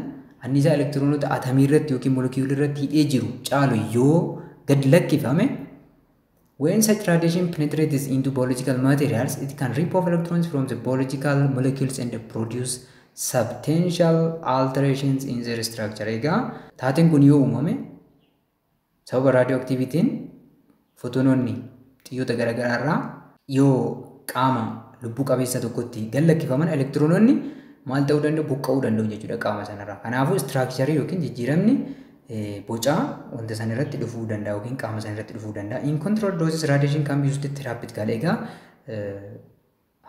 anniisaa elektiroonota atamii irratti yookiin molekiyuulii irratti hidhee jiru caalu yoo gad lakkifame When such radiation penetrates into biological materials, it can rip off electrons from the biological molecules and produce substantial alterations in their structure. Egaa taateen kun yoo uumame Sababa raadiyooaktiivitiin fotoonoonni xiyyoota garaagaraa irraa yoo qaama lubbuu qabeessa tokkotti gad lakkifaman elektiroonoonni maal ta'uu danda'u buqqa'uu danda'u jechuudha qaama sanarraa. Kanaafuu istiraakcharii yookiin jijjiiramni bocaa wanta san irratti dhufuu danda'a yookiin qaama san irratti dhufuu danda'a. In control doses radiation can be used therapeutically. Egaa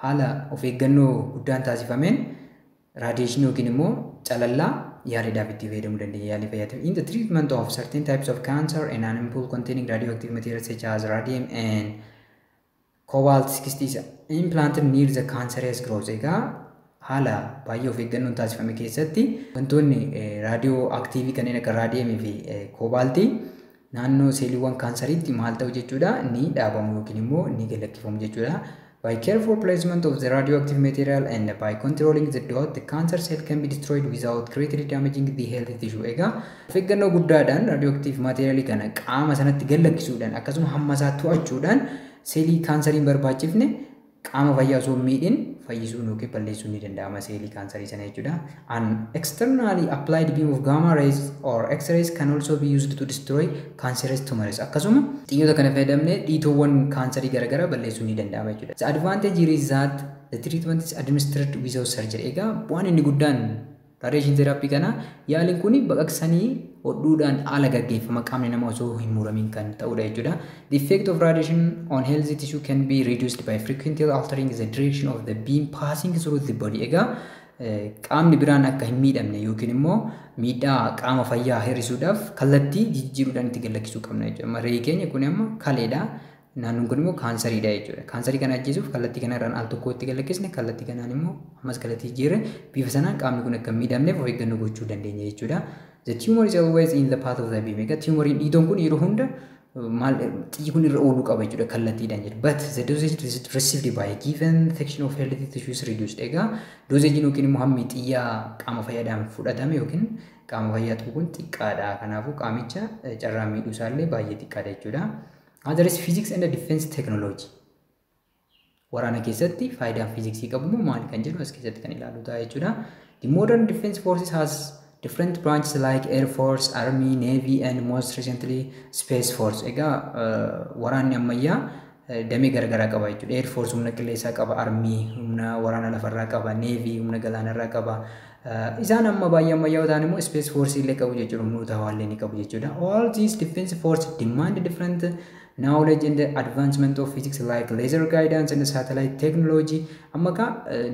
Haala of eeggannoo guddaan taasifameen radiation yookiin immoo calallaa yaaliidhaaf itti fayyadamuu dandeenya yaalii fayyaatiif. In the treatment of certain types of cancer and animal containing radioactive materials such as radium and cobalt 60 is implanted near the cancerous growth. Egaa Haala baay'ee of eeggannoon taasifame keessatti wantoonni raadiyoo aktiivii kanneen akka raadiyeemii fi koobaaltii naannoo seeliiwwan kaansariitti maal ta'u jechuudha ni dhaabamu yookiin immoo ni galakkifamu jechuudha. By careful placement of the radioactive material and by controlling the dot, the cancer cell can be destroyed without greatly damaging the healthy tissue. Egaa of eeggannoo guddaadhaan radioactive material kana qaama sanatti gallakkisuudhaan akkasuma hamma isaa to'achuudhaan seelii kaansariin barbaachifne Qaama fayyaa osoo hin miidhin fayyisuun yookiin balleessuun ni danda'ama seelii kaansarii sana jechuudha. An externally applied beam of gamma rays or x-rays can also be used to destroy cancerous tumors. Akkasuma xiyyoota kana fayyadamnee dhiitoowwan kaansarii garaagaraa balleessuun ni danda'ama jechuudha. The advantage here is that the treatment is administered without surgery. Egaa bu'aan inni guddaan Radiation therapy kana yaaliin kun baqaqsanii hodhuudhaan ala gaggeeffama qaamni nama osoo hin muramiin kan ta'udha jechuudha. The effect of radiation on healthy tissue can be reduced by frequently altering the direction of the beam passing through the body. Egaa qaamni biraan akka hin miidhamne yookiin immoo miidhaa qaama fayyaa hir'isuudhaaf kallattii jijjiiruudhaan itti gallakkisuu qabna jechuudha. Amma reeyi keenya kun amma kaleedha. Naannoon kun immoo kaansariidha jechuudha. Kaansarii kana ajjeesuuf kallattii kanarraan al tokko itti galakkisne kallattii kanaan immoo ammas kallattii jijjiirre bifa sanaan qaamni kun akka hin miidhamneef of eeggannoo gochuu dandeenya jechuudha. The tumor is always in the path of the beam. Egaa tumoriin dhiitoon kun yeroo hunda maal xiyyi kun irra ooluu qaba jechuudha kallattiidhaan jedhu. But the dosage received by a given section of healthy tissue is reduced. Egaa doozeejiin yookiin immoo hammi xiyya qaama fayyaadhaan fudhatame yookiin qaama fayyaa tuqu kun xiqqaadha. Kanaafuu qaamicha carraa miidhuu isaallee baay'ee xiqqaadha jechuudha. Another is physics and defense technology. Waraana keessatti faayidaan fiiziksii qabu immoo maali kan jedhu as keessatti kan ilaalu ta'a jechuudha. The modern defense forces has different branches like air force, army, navy and most recently space force. Egaa waraanni ammayyaa damee garagaraa qaba jechuudha. Air force humna qilleensaa qaba, army humna waraana lafarraa qaba, navy humna galaanarraa qaba, Isaan amma baay'ee ammayyaa'oo ta'an immoo space force illee qabu jechuudha humnoota hawaa illee ni qabu jechuudha. All these defense force demand different knowledge and advancement of physics like laser guidance and satellite technology amma ka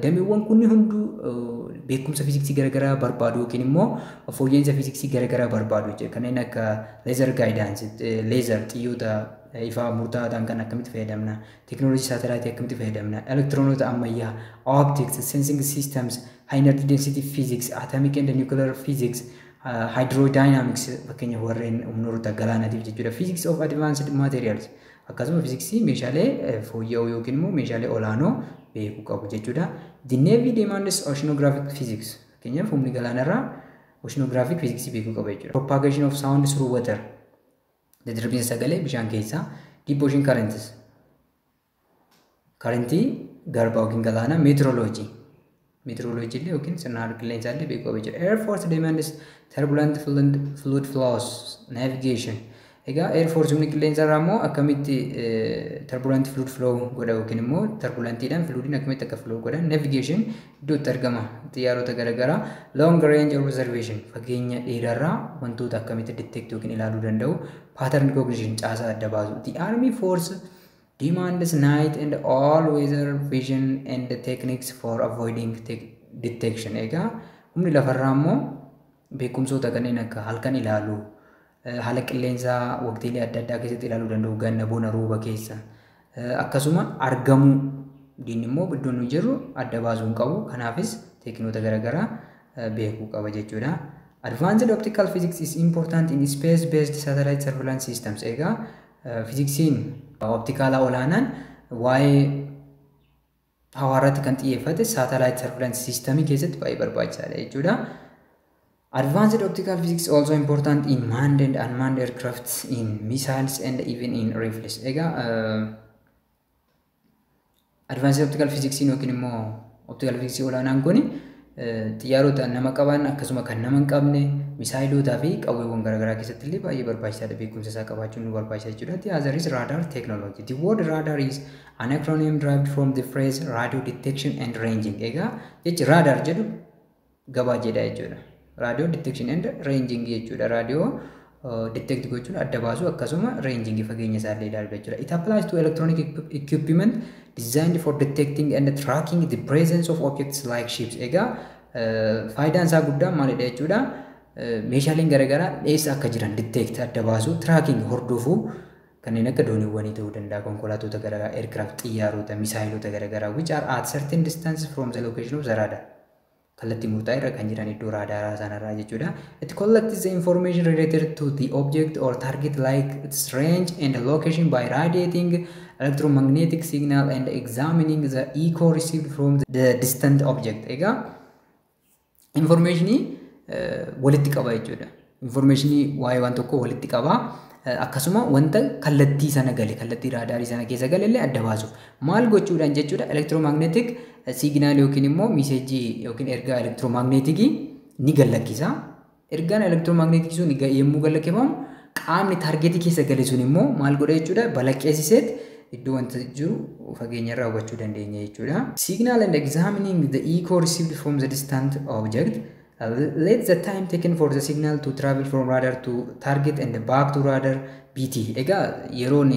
dameewwan kunni hunduu beekumsa fiiziksii garaagaraa barbaadu yookiin immoo fooyya'insa fiiziksii garaagaraa barbaadu jechuudha. Kanneen akka laser guidance, laser xiyyoota ifaa murtaa'aa ta'an kan akkamitti fayyadamna Teknolojii saatalaayitii akkamitti fayyadamna? Elektiroonota ammayyaa, optics, sensing systems, high energy density physics, atomic and nuclear physics, uh, hydrodynamics fakkeenyaaf warreen humnoota galaanaatiif jechuudha. Physics of advanced materials akkasuma fiziksii meeshaalee eh, fooyya'oo yookiin immoo meeshaalee olaanoo beekuu qabu jechuudha. The Navy demands oceanographic physics fakkeenyaaf humni galaanarraa oceanographic physics beekuu qaba jechuudha. Propagation of sound through water Daddarbiinsa sagalee bishaan keessaa deep ocean currents karentii garbaa yookiin galaanaa meteorology meteorology illee yookiin sirna haala qilleensaa illee beekuu qaba jechuudha. Air force demands turbulent fluid fluid flows navigation egaa air force humni qilleensa irraa immoo akkamitti turbulent fluid flow godha yookiin immoo turbulentiidhaan fluidiin akkamitti akka flow godhan navigation gidduutti argama xiyyaarota garagaraa long range observation fageenya dheeraarraa wantoota akkamitti detect yookiin ilaaluu danda'u pattern recognition caasaa adda baasu the army force demands night and all weather vision and techniques for avoiding detection egaa humni lafarraa immoo Beekumsoota kanneen akka halkan ilaaluu, haala qilleensaa waqtiilee adda addaa keessatti ilaaluu danda'u, ganna, bona, rooba keessa. Akkasuma argamuu diinni immoo iddoo nuyi jirru adda baasuu hin qabu. Kanaafis teekinoota garaagaraa beekuu qaba jechuudha. Advanced optical physics is important in space based satellite surveillance systems. Egaa fiiziksiin optikaalaa olaanaan waa'ee hawaa irratti kan xiyyeeffate satellite surveillance system keessatti baay'ee barbaachisaadha jechuudha. Advanced optical physics also important in manned and unmanned aircraft, in missiles and even in rifles. Egaa uh, advanced optical physics yookiin immoo optical physics olaanaan kun xiyyaarota nama qaban akkasuma kan nama hin qabne misaayilootaa fi qawweewwan garaagaraa keessatti illee baay'ee barbaachisaadha beekumsa isaa qabaachuun nu barbaachisa jechuudha. The other is radar technology. The word radar is An acronym derived from the phrase radio detection and ranging. Egaa jechi radar jedhu gabaajeedha jechuudha. Radio detection and ranging jechuudha. Radio detect gochuun adda baasuu akkasuma ranging fageenya isaa illee ilaaluu jechuudha. It applies to electronic equipment designed for detecting and tracking the presence of objects like ships. Egaa faayidaan isaa guddaan maalidha jechuudha. Meeshaaleen garaagaraa eessa akka jiran detect adda baasuu, tracking hordofuu kanneen akka dooniwwanii ta'uu danda'a, konkolaatota garaagaraa, aircraft, xiyyaarota, misaayilota garaagaraa which are at certain distance from the location of the radar. Kallattii murtaa'e irra kan jiran iddoo raadaaraa sanarraa jechuudha. It collects the information related to the object or target like its range and location by radiating electromagnetic signal and examining the echo received from the distant object. Egaa Infoormeeshinii walitti qaba jechuudha. Infoormeeshinii waa'ee waan tokkoo walitti qaba. Akkasuma wanta kallattii sana gale, kallattii raadaarii sana keessa gale illee adda baasuuf. Maal gochuudhaan jechuudha elektiroomagneetik siiginaal yookiin immoo miiseejii yookiin ergaa elektiroomagneetikii ni gallakkisa. Ergaan elektiroomagneetikii sun ga- yommuu galakifamu qaamni taargeetii keessa gale sun immoo maal godha jechuudha balaqqeessiseet iddoo wanta jiru fageenya irraa hubachuu dandeenya jechuudha. Signal and examining the echo received from the distant object. Uh, Let the time taken for the signal to travel from radar to target and back to radar be t. Egaa yeroon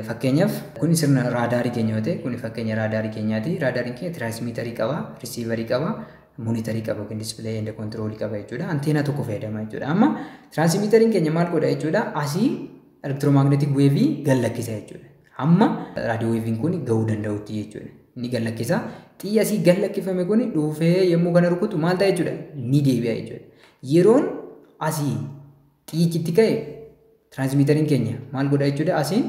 Fakkeenyaaf kuni sirna raadaarii keenya yoo ta'e kuni fakkeenya raadaarii keenyaati. Raadaariin keenya tiraasmiitarii qaba, risiivarii qaba, monitarii qaba yookiin dispilay and control qaba jechuudha. Anteenaa tokko fayyadama jechuudha. Amma tiraasmiitariin keenya maal godha jechuudha? Asii elektiroomagneetik weevii gad lakkisa jechuudha. Hamma raadiyoo weeviin kun gahuu danda'utti jechuudha. Ni gad lakkisa. Xiyyi asii gad lakkifame kun dhuufee yommuu kana rukutu maal ta'a jechuudha? Ni deebi'a jechuudha. Yeroon asii Xiyyichi itti ka'e transmiiterin keenya maal godha jechuudha asiin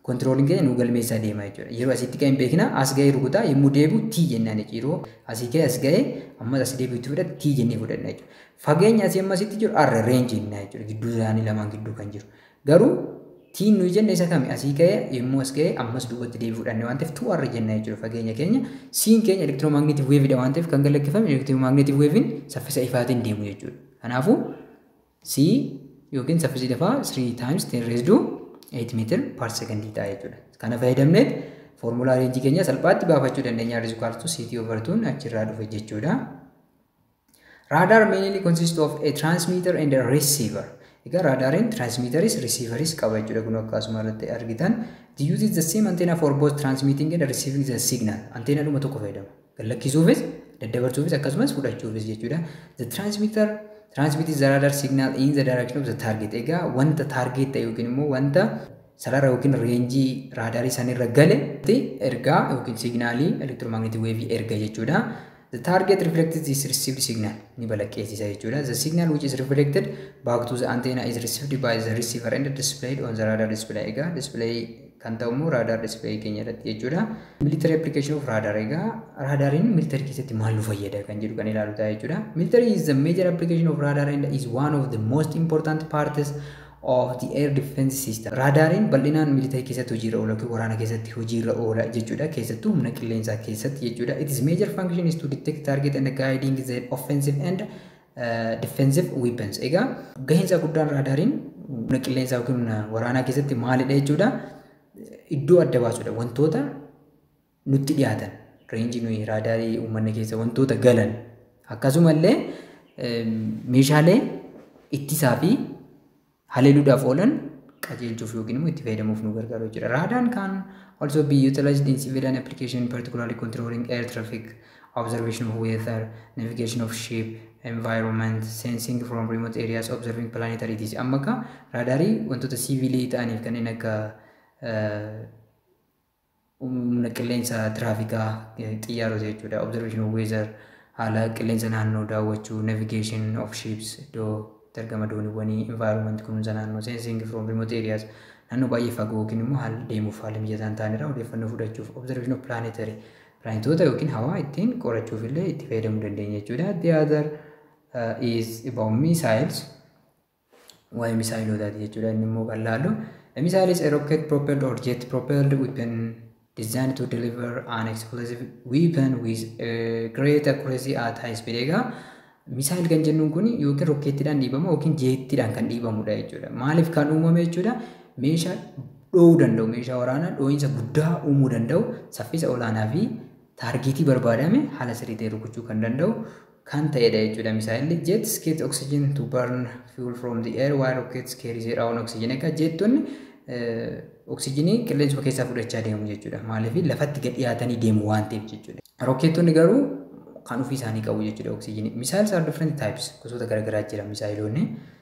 kontirooliin keenya nu galmeessaa deema jechuudha. Yeroo asitti ka'e hin beekna as ga'ee rukutaa yommuu deebi'u T jennaan jechuudha. Yeroo asii ka'e as ga'e ammas as deebi'u itti fudhate T jennee fudhanna jechuudha. Fageenya asii amma asitti jiru R reenji jennaa jechuudha. Gidduu isaanii lamaan gidduu kan jiru. Garuu T nuyi jenne isa kami asii ka'e yommuu as ga'e ammas duubatti deebi'u fudhanne waan ta'eef 2R jennaa jechuudha fageenya keenya. Siin keenya elektiroomagneetiv weevidha waan ta'eef kan galakkifame elektiroomagneetiv weevin saffisa ifaatiin deemu jechuudha. Kanaafuu C yookiin saffisi lafaa 3 times 10 raised to 8 meter per second ta'a jechuudha. Kana fayyadamnee foormulaa reenjii keenya salphaatti baafachuu dandeenya is equal to CT over 2 achirraa dhufe jechuudha. Radar mainly consists of a transmitter and a receiver. Egaa raadaariin transmitteris receiveris qaba jechuudha kun akkasuma irratti argitan. The uses the same antenna for both transmitting and receiving the signal. Anteena dhuma tokko fayyadama. gallakkisuufis daddabarsuufis akkasumas fudhachuufis jechuudha. The transmitter transmit the radar signal in the direction of the target. Egaa wanta target ta'e yookiin immoo wanta sarara yookiin reenjii raadaarii sanirra gale ergaa yookiin signaalii elektiromagneetii weevii erga jechuudha. The target reflects this received signal ni balaqqeessisa jechuudha. The signal which is reflected back to the antenna is received by the receiver and displayed on the radar display. Egaa display kan ta'u immoo raadaar display keenya irratti jechuudha. Military application of radar egaa raadaariin military keessatti maal nu fayyada kan jedhu kan ilaalu ta'a jechuudha. Military is the major application of radar and is one of the most important parts of the air defense system. Raadaariin bal'inaan military keessatti hojiirra oola yookiin waraana keessatti hojiirra oola jechuudha. Keessattuu humna qilleensaa keessatti jechuudha. It is major function is to detect target and guiding the offensive and Defensive weapons. Egaa gahinsa guddaan raadaariin humna qilleensaa yookiin humna waraanaa keessatti maalidha jechuudha. Iddoo adda baasudha. Wantoota nutti dhiyaatan reenjii nuyi raadaarii uummanna keessa wantoota galan akkasumallee meeshaalee ittisaa fi haleeluudhaaf oolan qajeelchuuf yookiin immoo itti fayyadamuuf nu gargaaru jechuudha. Raadaan kan also be utilized in civilian application particularly controlling air traffic, observation of weather, navigation of ship, environment, sensing from remote areas, observing planetary disk. Amma akka raadaarii wantoota siivilii ta'aniif kanneen akka Humna qilleensa tiraafikaa, xiyyaarota jechuudha, observation of weather, haala qilleensa naannoo daawwachuu, navigation of ships, iddoo itti argama dooniiwwanii, environment, kunuunsa naannoo, sensing from remote areas, naannoo baay'ee fagoo yookiin immoo haala deemuuf haala mijataa hin taane irraa odeeffannoo fudhachuuf, observation of planetary, pilaanetoota yookiin hawaa ittiin qorachuuf illee itti fayyadamuu dandeenya jechuudha. The other uh, is about missiles. waa'ee misaayilootaati jechuudha inni immoo kan laallu. A missile is a rocket propelled or jet propelled weapon designed to deliver an explosive weapon with a great accuracy at high speed egaa misaayil kan jennuun kun yookiin rokkeettiidhaan dhiibama yookiin jeettiidhaan kan dhiibamudha jechuudha. Maaliif kan uumame jechuudha meeshaa dhoowuu danda'u meeshaa waraanaa dhoo'insa guddaa uumuu danda'u saffisa olaanaa fi taargeetii barbaadame haala sirrii ta'e rukuchuu kan danda'u kan ta'edha jechuudha misaa'elli jets get oxygen to burn fuel from the air while rockets carry their own oxygen egaa jeettonni oksijinii qilleensuma keessaa fudhachaa deemu jechuudha maaliif lafatti gad dhiyaatanii deemu waan ta'eef jechuudha rokkeettonni garuu kan ofii isaanii qabu jechuudha oksijinii misaa'els are different types gosoota garaagaraa jira misaa'eloonni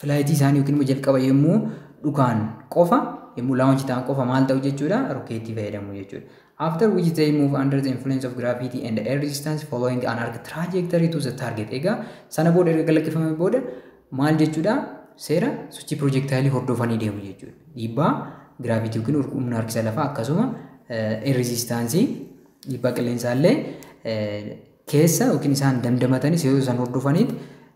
filaayitii isaanii yookiin immoo jalqaba yommuu dhukaan qofa yommuu launch ta'an qofa maal ta'u jechuudha rokeettii fayyadamu jechuudha. After which they move under the influence of gravity and air resistance following an arc trajectory to the target. Egaa sana booda erga galakkifame booda maal jechuudha seera sochii pirojektaayilii hordofanii deemu jechuudha. Dhiibbaa giraavitii yookiin humna harkisa lafaa akkasuma air resistance dhiibbaa qilleensaallee keessa yookiin isaan damdamatanis yoo isaan hordofaniit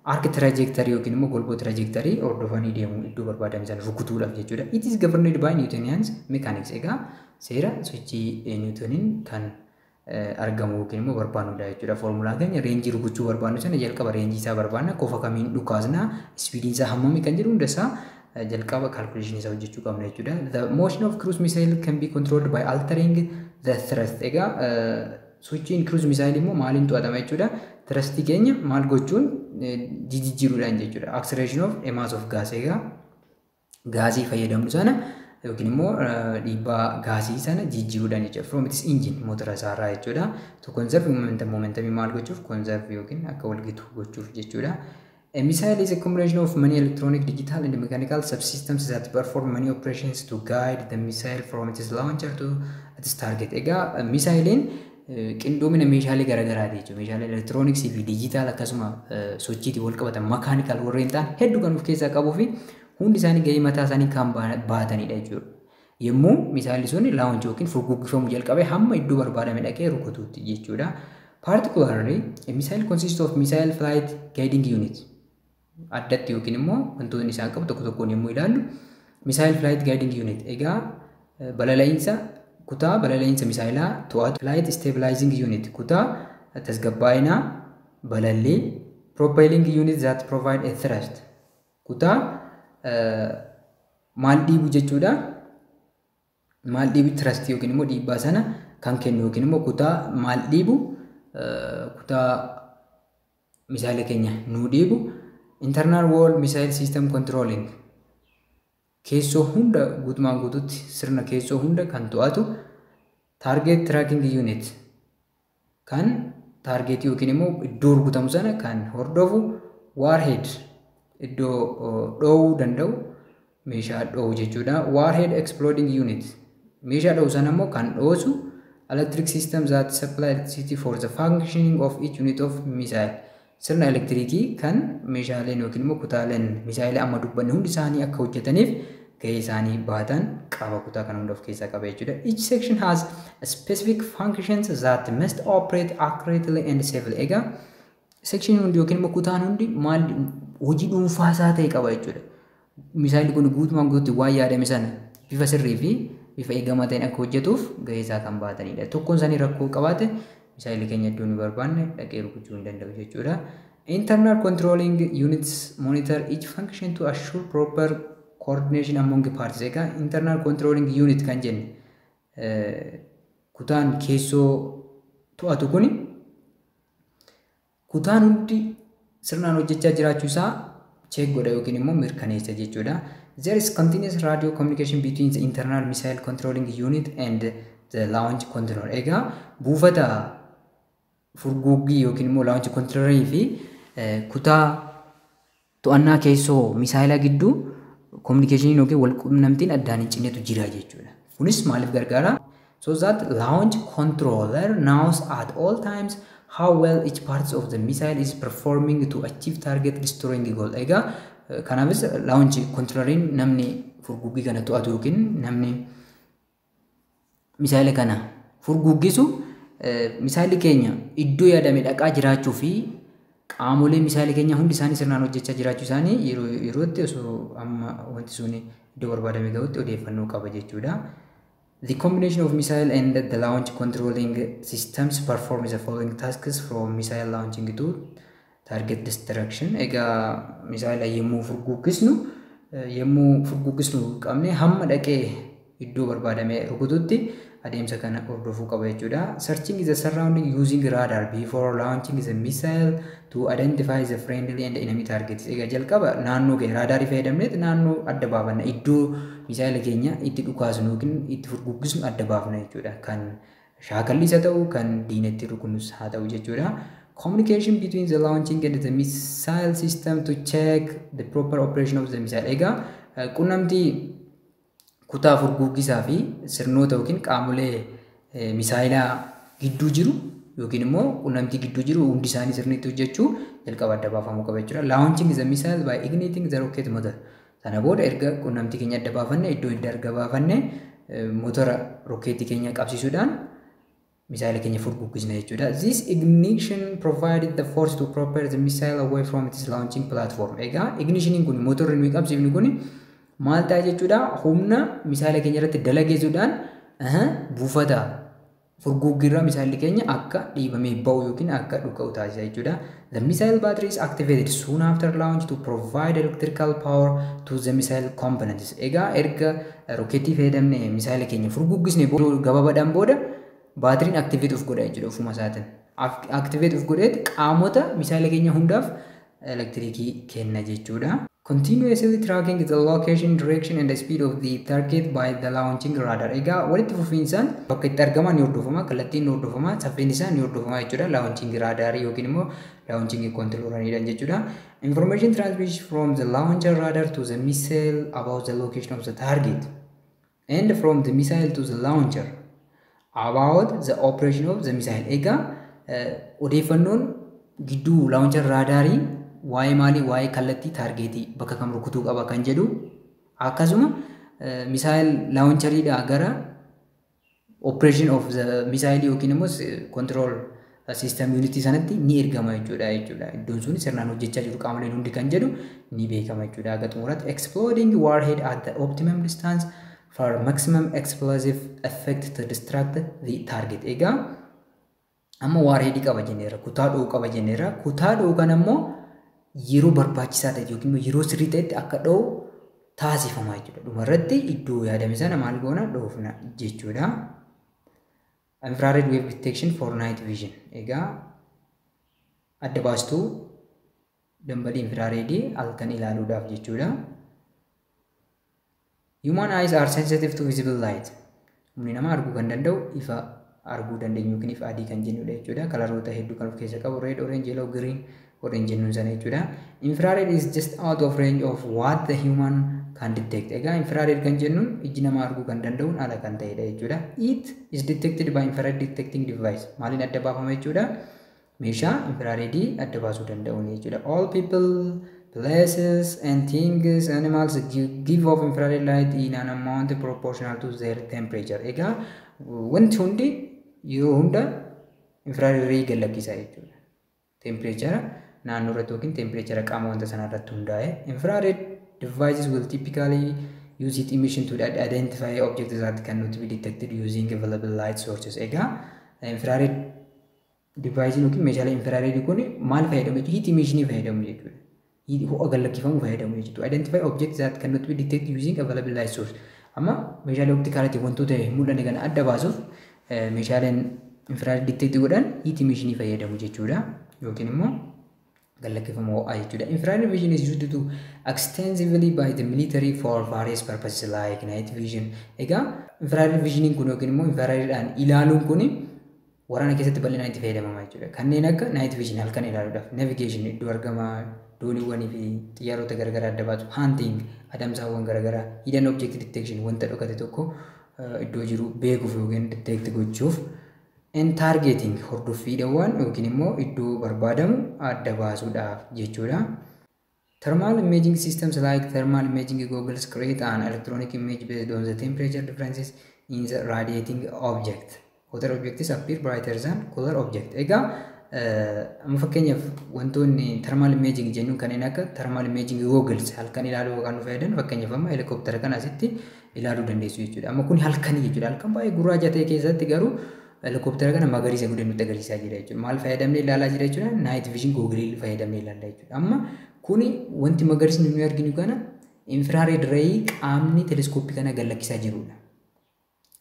arc trajectory yookiin immoo golboo trajectory hordofanii deemu iddoo barbaadame sana rukutuudhaaf jechuudha. It is governed by Newtonians mechanics egaa seera sochii Newtoniin kan argamu yookiin immoo barbaannudha jechuudha. Foormulaa keenya reenjii rukuchuu barbaannu sana jalqaba reenjii isaa barbaanna kofa kamiin dhukaasna ispiidiin isaa hammami kan jedhu hunda isaa jalqaba calculation isaa hojjechuu qabna jechuudha. The motion of cruise missile can be controlled by altering the thrust. Egaa Sochiin kiruuz misaayilii immoo maaliin to'atama jechuudha. Tirastii keenya maal gochuun jijijjiiruudhaan jechuudha. Acceleration of a mass of gas egaa gaazii fayyadamnu sana yookiin immoo dhiibbaa gaazii sana jijjiiruudhaan jechuudha. From its engine motora isaarraa jechuudha. To conserve momentum momentumii maal gochuuf conserve yookiin akka walgitu gochuuf jechuudha. A missile is a combination of many electronic, digital, and mechanical subsystems that perform many operations to guide the missile from its launcher to its target. Egaa misaayiliin qindoomina meeshaalee garaagaraati jechuudha. Meeshaalee elektirooniksii fi diijitaal akkasuma sochiitiin wal qabatan makaanikaal warreen ta'an hedduu kan of keessaa qabuu fi hundi isaanii gahee mataa isaanii kan baatanidha jechuudha. Yommuu misaayilli sun launch yookiin furguggifamu jalqabe hamma iddoo barbaadame dhaqee rukutuutti jechuudha. Particularly, a missile consists of missile flight guiding unit. Addatti yookiin immoo wantoonni isaan qabu tokko tokkoon yommuu ilaallu missile flight guiding unit egaa balala'iinsa kutaa balala'iinsa misaayilaa to'atu flight stabilizing unit kutaa tasgabbaa'inaa balallii propelling unit that provide a thrust Kutaa maal dhiibu jechuudha. Maal dhiibu tirastii yookiin immoo dhiibbaa sana kan kennu yookiin immoo kutaa maal dhiibu kutaa misaayila keenya nuu dhiibu internal wall missile system controlling keessoo hunda guutumaan guututti sirna keessoo hunda kan to'atu target tracking unit kan taargeetii yookiin immoo iddoo rukutamu sana kan hordofu waarheed iddoo dhoowuu danda'u meeshaa dhoowuu jechuudha. Waarheed exploding unit meeshaa dhoowuu sana immoo kan dhoosu electric system that supply electricity for the functioning of each unit of missile Sirna elektiriikii kan meeshaaleen yookiin immoo kutaaleen misaa'ela amma dubbanne hundi isaanii akka hojjetaniif gahee isaanii bahatan qaama kutaa kana hunda of keessaa qaba jechuudha. Each section has specific functions that must operate accurately and safely. Egaa section hundi yookiin immoo kutaan hundi maal hojii dhuunfaa isaa ta'e qaba jechuudha. Misaayilli kun guutumaan guututti waan yaadame sana bifa sirrii fi bifa eegamaa ta'een akka hojjetuuf gahee isaa kan bahatanidha. Tokkoon isaanii rakkoo qabaate misaayilli keenya iddoo nu barbaanne dhaqee rukuchuu hin danda'u jechuudha. Internal controlling units monitor each function to assure proper coordination among parts. Egaa internal controlling unit kan jenne kutaan keessoo to'atu kuni Kutaan hundi sirnaan hojjechaa jiraachuu isaa check godha yookiin immoo mirkaneessa jechuudha. There is continuous radio communication between the internal missile controlling unit and the launch control. Egaa buufata furguggii yookiin immoo launch control fi kutaa To'annaa keessoo misaayilaa gidduu kominikeeshiniin yookiin walqunnamtiin addaan hin cinnetu jira jechuudha. Kunis maaliif gargaara? So that launch controller knows at all times how well each parts of the missile is performing to achieve target destroying goal. Egaa kanaafis launch controlleriin namni furguggii kana to'atu yookiin namni misaayila kana furguggisu misaayilli keenya iddoo yaadame dhaqaa jiraachuu fi qaamolee misaayilli keenya hundi isaanii sirnaan hojjechaa jiraachuu isaanii yeroo yerootti osoo amma wanti sun iddoo barbaadame gahutti odeeffannoo qaba jechuudha. The combination of missile and the launch controlling systems performs the following tasks from missile launching to Target destruction egaa misaayila yommuu furguggissnu yommuu furguggissnu qabne hamma dhaqee iddoo barbaadamee rukututti adeemsa kana hordofuu qaba jechuudha. Searching the surrounding using radar before launching the missile to identify the friendly and enemy targets. Egaa jalqaba naannoo ga'e raadaarii fayyadamneet naannoo adda baafanna iddoo misaayila keenya itti dhukaasnu yookiin itti furguggissnu adda baafna jechuudha. Kan shaakallis haa ta'u kan diina itti rukunnus haa ta'u jechuudha. Communication between the launching and the missile system to check the proper operation of the missile. Egaa eh, qunnamtii kutaa furguggisaa fi sirnoota yookiin qaamolee eh, misaayilaa gidduu jiru yookiin immoo qunnamtii gidduu jiru hundi isaanii sirniitti hojjechuu jalqaba adda baafamuu qaba jechuudha. Launching the missile by igniting the rocket motor. Sana booda erga qunnamtii keenya adda baafanne iddoo hidda erga baafanne motora rokkeetii keenya qabsiisuudhaan misaayila keenya furguggisna jechuudha. This ignition provided the force to propel the missile away from its launching platform. Egaa ignishiniin kun motorri nuyi qabsiifnu kun maal ta'a jechuudha humna misaayila keenya irratti dalageessuudhaan buufata Furguggiirraa misaayilli keenya akka dhiibamee ba'u yookiin akka dhuka'u taasisa jechuudha. The missile battery is activated soon after launch to provide electrical power to the missile components. Egaa erga rokeettii fayyadamne misaayila keenya furguggisne gabaabadhaan booda baatiriin activate of godha jechuudha ofuma isaatiin. Activate of godheet qaamota misaayila keenya hundaaf elektirikii kenna jechuudha. Continuously tracking the location, direction and speed of the target by the launching radar. Egaa walitti fufiinsaan bakka itti argamaa ni hordofama, kallattiin ni hordofama, saffisni isaa ni hordofama jechuudha. Launching radar yookiin immoo launching controlaniidhaan jechuudha. Information transmission from the launcher radar to the missile about the location of the target. and from the missile to the launcher about the operation of the missile egaa eh, odeeffannoon gidduu launcher raadaarii waa'ee maalii waa'ee kallattii taargeetii bakka kam rukutuu qaba kan jedhu akkasuma eh, missile launcheriidhaa gara operation of the missile yookiin immoo control System unit sanatti ni ergama jechuudha jechuudha. Iddoon sun sirnaan hojjechaa jiru qaamoleen hundi kan jedhu ni beekama jechuudha. Haga xumuraatti exploding warhead at the optimum distance for maximum explosive effect to distract the target. Egaa amma warhead qaba jenneera, kutaa dho'u qaba jenneera. Kutaa dho'u kan ammoo yeroo barbaachisaa ta'e yookiin immoo yeroo sirrii ta'etti akka dho'u taasifama jechuudha. Dhumarratti iddoo yaadame sana maal goona dhoofna jechuudha. Infrared wave detection for night vision. Egaa adda baastuu dambalii infiraareedii halkan ilaaluudhaaf jechuudha. Human eyes are sensitive to visible light. Humni nama arguu kan danda'u ifa arguu dandeenyu yookiin ifa adii kan jennudha jechuudha. Kalaroota hedduu kan of keessa qabu red, orange, yellow, green godhan jennuun sana jechuudha. Infrared is just out of range of what the human can detect. Egaa infrared kan jennuun ijji namaa arguu kan danda'uun ala kan ta'edha jechuudha. It is detected by infrared detecting device. Maaliin adda baafama jechuudha? Meeshaa infrared adda baasuu danda'uun jechuudha. All people, places and things, animals give off infrared light in an amount proportional to their temperature. Egaa wanti hundi yeroo hunda infrared ray gad lakkisaa jechuudha. Tempireechara naannoo irratti yookiin tempireechara qaama wanta sanaa irratti hundaa'e. Infrared devices will typically use heat emission to identify objects that cannot be detected using available light sources. Egaa infrared device yookiin meeshaalee infrared kun maal fayyadamu jechuudha? Heat emission fayyadamu jechuudha. ho'a gad lakkifamu fayyadamu jechuudha. To identify objects that cannot be detected using available light source. Amma meeshaalee optikaalatiin wantoota hin mul'anne kana adda baasuuf meeshaaleen infrared detect godhan heat emission fayyadamu jechuudha. Yookiin immoo gad lakkifama ho'aa jechuudha. Infrared vision is used to extensively by the military for various purposes like night vision. Egaa infrared visioniin kun yookiin immoo infraredhaan ilaaluun kun Waraana keessatti bal'inaan itti fayyadamama jechuudha. Kanneen akka night vision halkan ilaaluudhaaf, navigation iddoo argama dooniiwwanii fi xiyyaarota garagaraa adda baasu, hunting adamsaawwan garagaraa, hidden object detection wanta dhokate tokko eh, iddoo jiru beekuuf yookiin detect gochuuf, and targeting hordoffiidhawwan yookiin immoo iddoo barbaadamu adda baasuudhaaf jechuudha. Thermal imaging systems like thermal imaging goggles create an electronic image based on the temperature differences in the radiating object. Hotter objects appear brighter than cooler object. Egaa amma fakkeenyaaf wantoonni thermal imaging jennuun kanneen akka thermal imaging goggles halkan ilaaluu kan nu fayyadan fakkeenyaaf amma helikoptera kana asitti ilaaluu dandeessu jechuudha. Amma kun halkanii jechuudha. Halkan baay'ee gurraacha ta'e keessatti garuu Helikoptera kana magariisa godhee nutti agarsiisaa jira jechuudha. Maal fayyadamnee ilaalaa jira jechuudha? Night vision googilii fayyadamnee ilaalla jechuudha. Amma kuni wanti magariisni nuyi arginu kana infrared ray qaamni teleskooppii kana gad lakkisaa jirudha.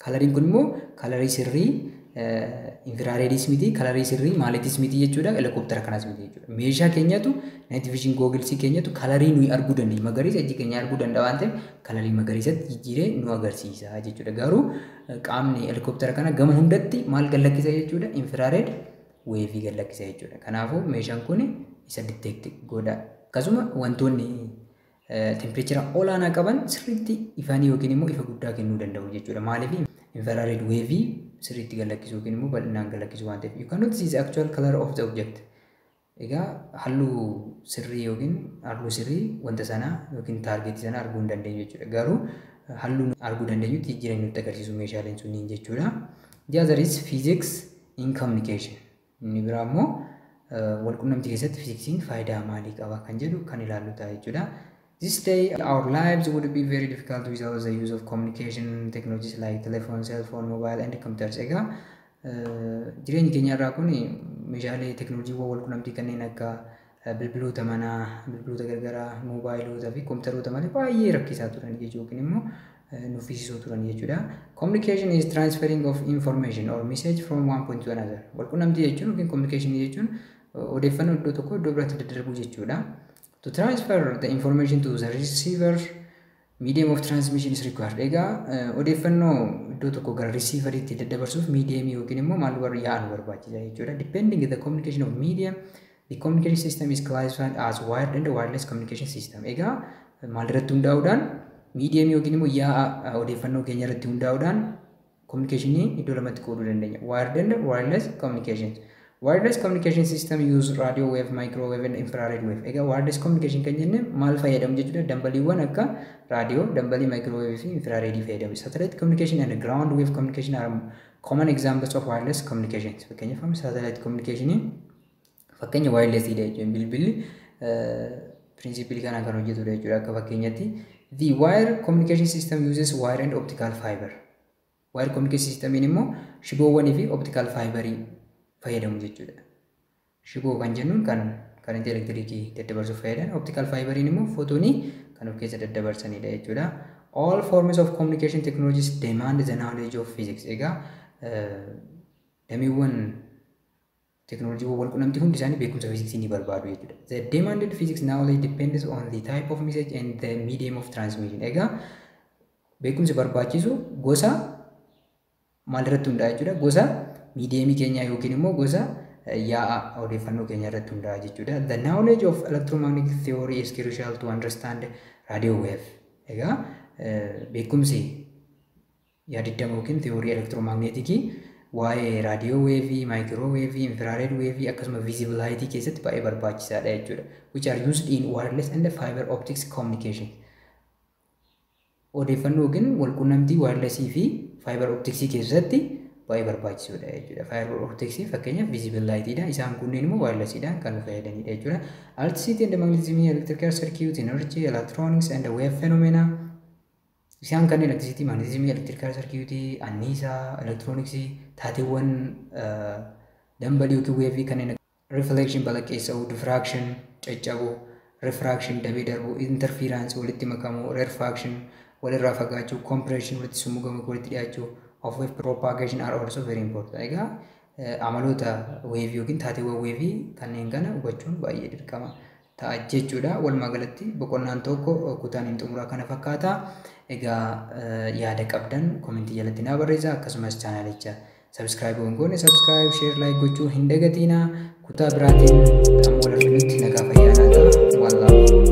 Kalariin kun immoo kalarii sirrii infiraareediis miti, kalarii sirrii maaliitiis miti jechuudha, helikoptera kanas miti jechuudha. Meeshaa keenyatu night vision googilsii keenyatu kalarii nuyi arguu dandeenyu magariisa ijji keenya arguu danda'a waan ta'eef kalarii magariisatti jijjiiree nu agarsiisa jechuudha. Garuu qaamni helikoptera kana gama hundatti maal gallakkisa jechuudha infiraareed weevii gallakkisa jechuudha kanaafuu meeshaan kun isa diteekti godha akkasuma wantoonni tempireechera olaanaa qaban sirriitti ifanii yookiin immoo ifa guddaa kennuu danda'u jechuudha maaliif infiraareed weevii sirriitti gallakkisuu yookiin immoo bal'inaan gallakkisuu waan ta'eef you cannot see the actual color of the object Egaa halluu sirrii yookiin arguu sirrii wanta sanaa yookiin taargeetii sanaa arguu hin dandeenyu jechuudha. Garuu halluu arguu dandeenyutti jijjiiranii nutti agarsiisu meeshaaleen sunniin jechuudha. The other is physics in communication. Inni biraa immoo walqunnamtii keessatti fiiziksiin faayidaa maalii qaba kan jedhu kan ilaallu ta'a jechuudha. This day our lives would be very difficult without the use of communication technologies like telephone, cell phone, mobile and computers. Egaa jireenyi keenya irraa kun meeshaalee teknooloojiiwwan wal qunnamtii kanneen akka bilbiloota manaa, bilbiloota gargaraa, moobaayiloota fi kompiitaroota malee baay'ee rakkisaa turan jechuudha yookiin immoo nuffisiisoo turan jechuudha. Communication is transferring of information or message from one point to another. Wal qunnamtii jechuun yookiin communication jechuun odeeffannoo iddoo tokkoo iddoo biraatti daddarbuu jechuudha. To transfer the information to the receiver, medium of transmission is required. Egaa eh, odeeffannoo iddoo tokko gara risiivariitti daddabarsuuf medium yookiin immoo maal warra yaa'an barbaachisa jechuudha. Depending the communication of medium, the communication system is classified as wired and wireless communication system. Egaa eh, maal irratti hundaa'uudhaan medium yookiin immoo yaa'a eh, odeeffannoo keenya irratti hundaa'uudhaan Communication iddoo lamatti qooduu dandeenya. Wired and wireless communications. Wireless communication system use radio wave, microwave and infrared wave. Egaa wireless communication kan jenne maal fayyadamu jechuudha? Dambaliiwwan akka raadiyoo, dambalii microwave fi infrared fayyadamu. Satellite communication and ground wave communication are common examples of wireless communications. Fakkeenyaaf amma satellite communication Fakkeenya wireless dha jechuun bilbilli principle kanaan kan hojjetudha jechuudha akka fakkeenyatti. The wire communication system uses wire and optical fiber. Wire communication system immoo shiboowwanii fi optical fiber fayyadamu jechuudha. Shiboo kan jennuun kan karantii elektirikii daddabarsuuf fayyadan optical fiber immoo fotonii kan of keessa daddabarsanidha jechuudha. All forms of communication technologies demand the knowledge of physics. Egaa damiiwwan Teeknooloojiiwwan walqunnamtii hundi isaanii beekumsa fiiziksii ni barbaadu jechuudha. The demanded physics knowledge depends on the type of message and the medium of transmission. Egaa beekumsi barbaachisu gosa maalirratti hundaa'a jechuudha? Gosa miidiyeemii keenyaa yookiin immoo gosa yaa'a odeeffannoo keenya irratti hundaa'a jechuudha. The knowledge of electromagnetic theory is crucial to understand radio wave. Egaa beekumsi Yaadiddama ykn tiyoorii elektiromaagneetikii waa'ee raadiyoo weevii, maayikiroo weevii, infiraareed weevii akkasuma viizibal haayitii keessatti baay'ee barbaachisaadha jechuudha. Which are used in wireless and fiber optics communication. Odeeffannoo yookiin walqunnamtii waayirlesii fi faayibar optiksii keessatti baay'ee barbaachisoodha jechuudha. Faayibar optiksii fakkeenyaaf viizibal laayitiidha. Isaan kunneen immoo waayirlesiidhaan kan nu fayyadanidha jechuudha. Electricity and magnetism, electrical circuit, energy, electronics and wave phenomena. Isaan kanneen elektirisiitii, maagneetizimii, elektirikaala sarkiyuutii, anniisaa, elektirooniksii, taateewwan dambalii yookiin weevii kanneen reflection balaqqeessa'uu, diffraction caccabuu, refraction dabee darbuu, interference walitti makamuu, rarefaction walirraa fagaachuu, compression walitti summugamuu yookiin walitti dhiyaachuu, of wave propagation are also very important. Egaa amaloota weevii yookiin taateewwan weevii kanneen kana hubachuun baay'ee dirqama. ta'a jechuu dha. Walumaa galatti boqonnaan tokko kutaan hin xumuraa kana fakkaata. Egaa yaada qabdan komentii jalatti naa barreessaa akkasumas chaanaalicha sabskraayib hin goone sabskraayib sheer laayik gochuu hin dagatiina kutaa biraatiin amma wal arginutti nagaa fayyaa naa ta'a. Wallaahu.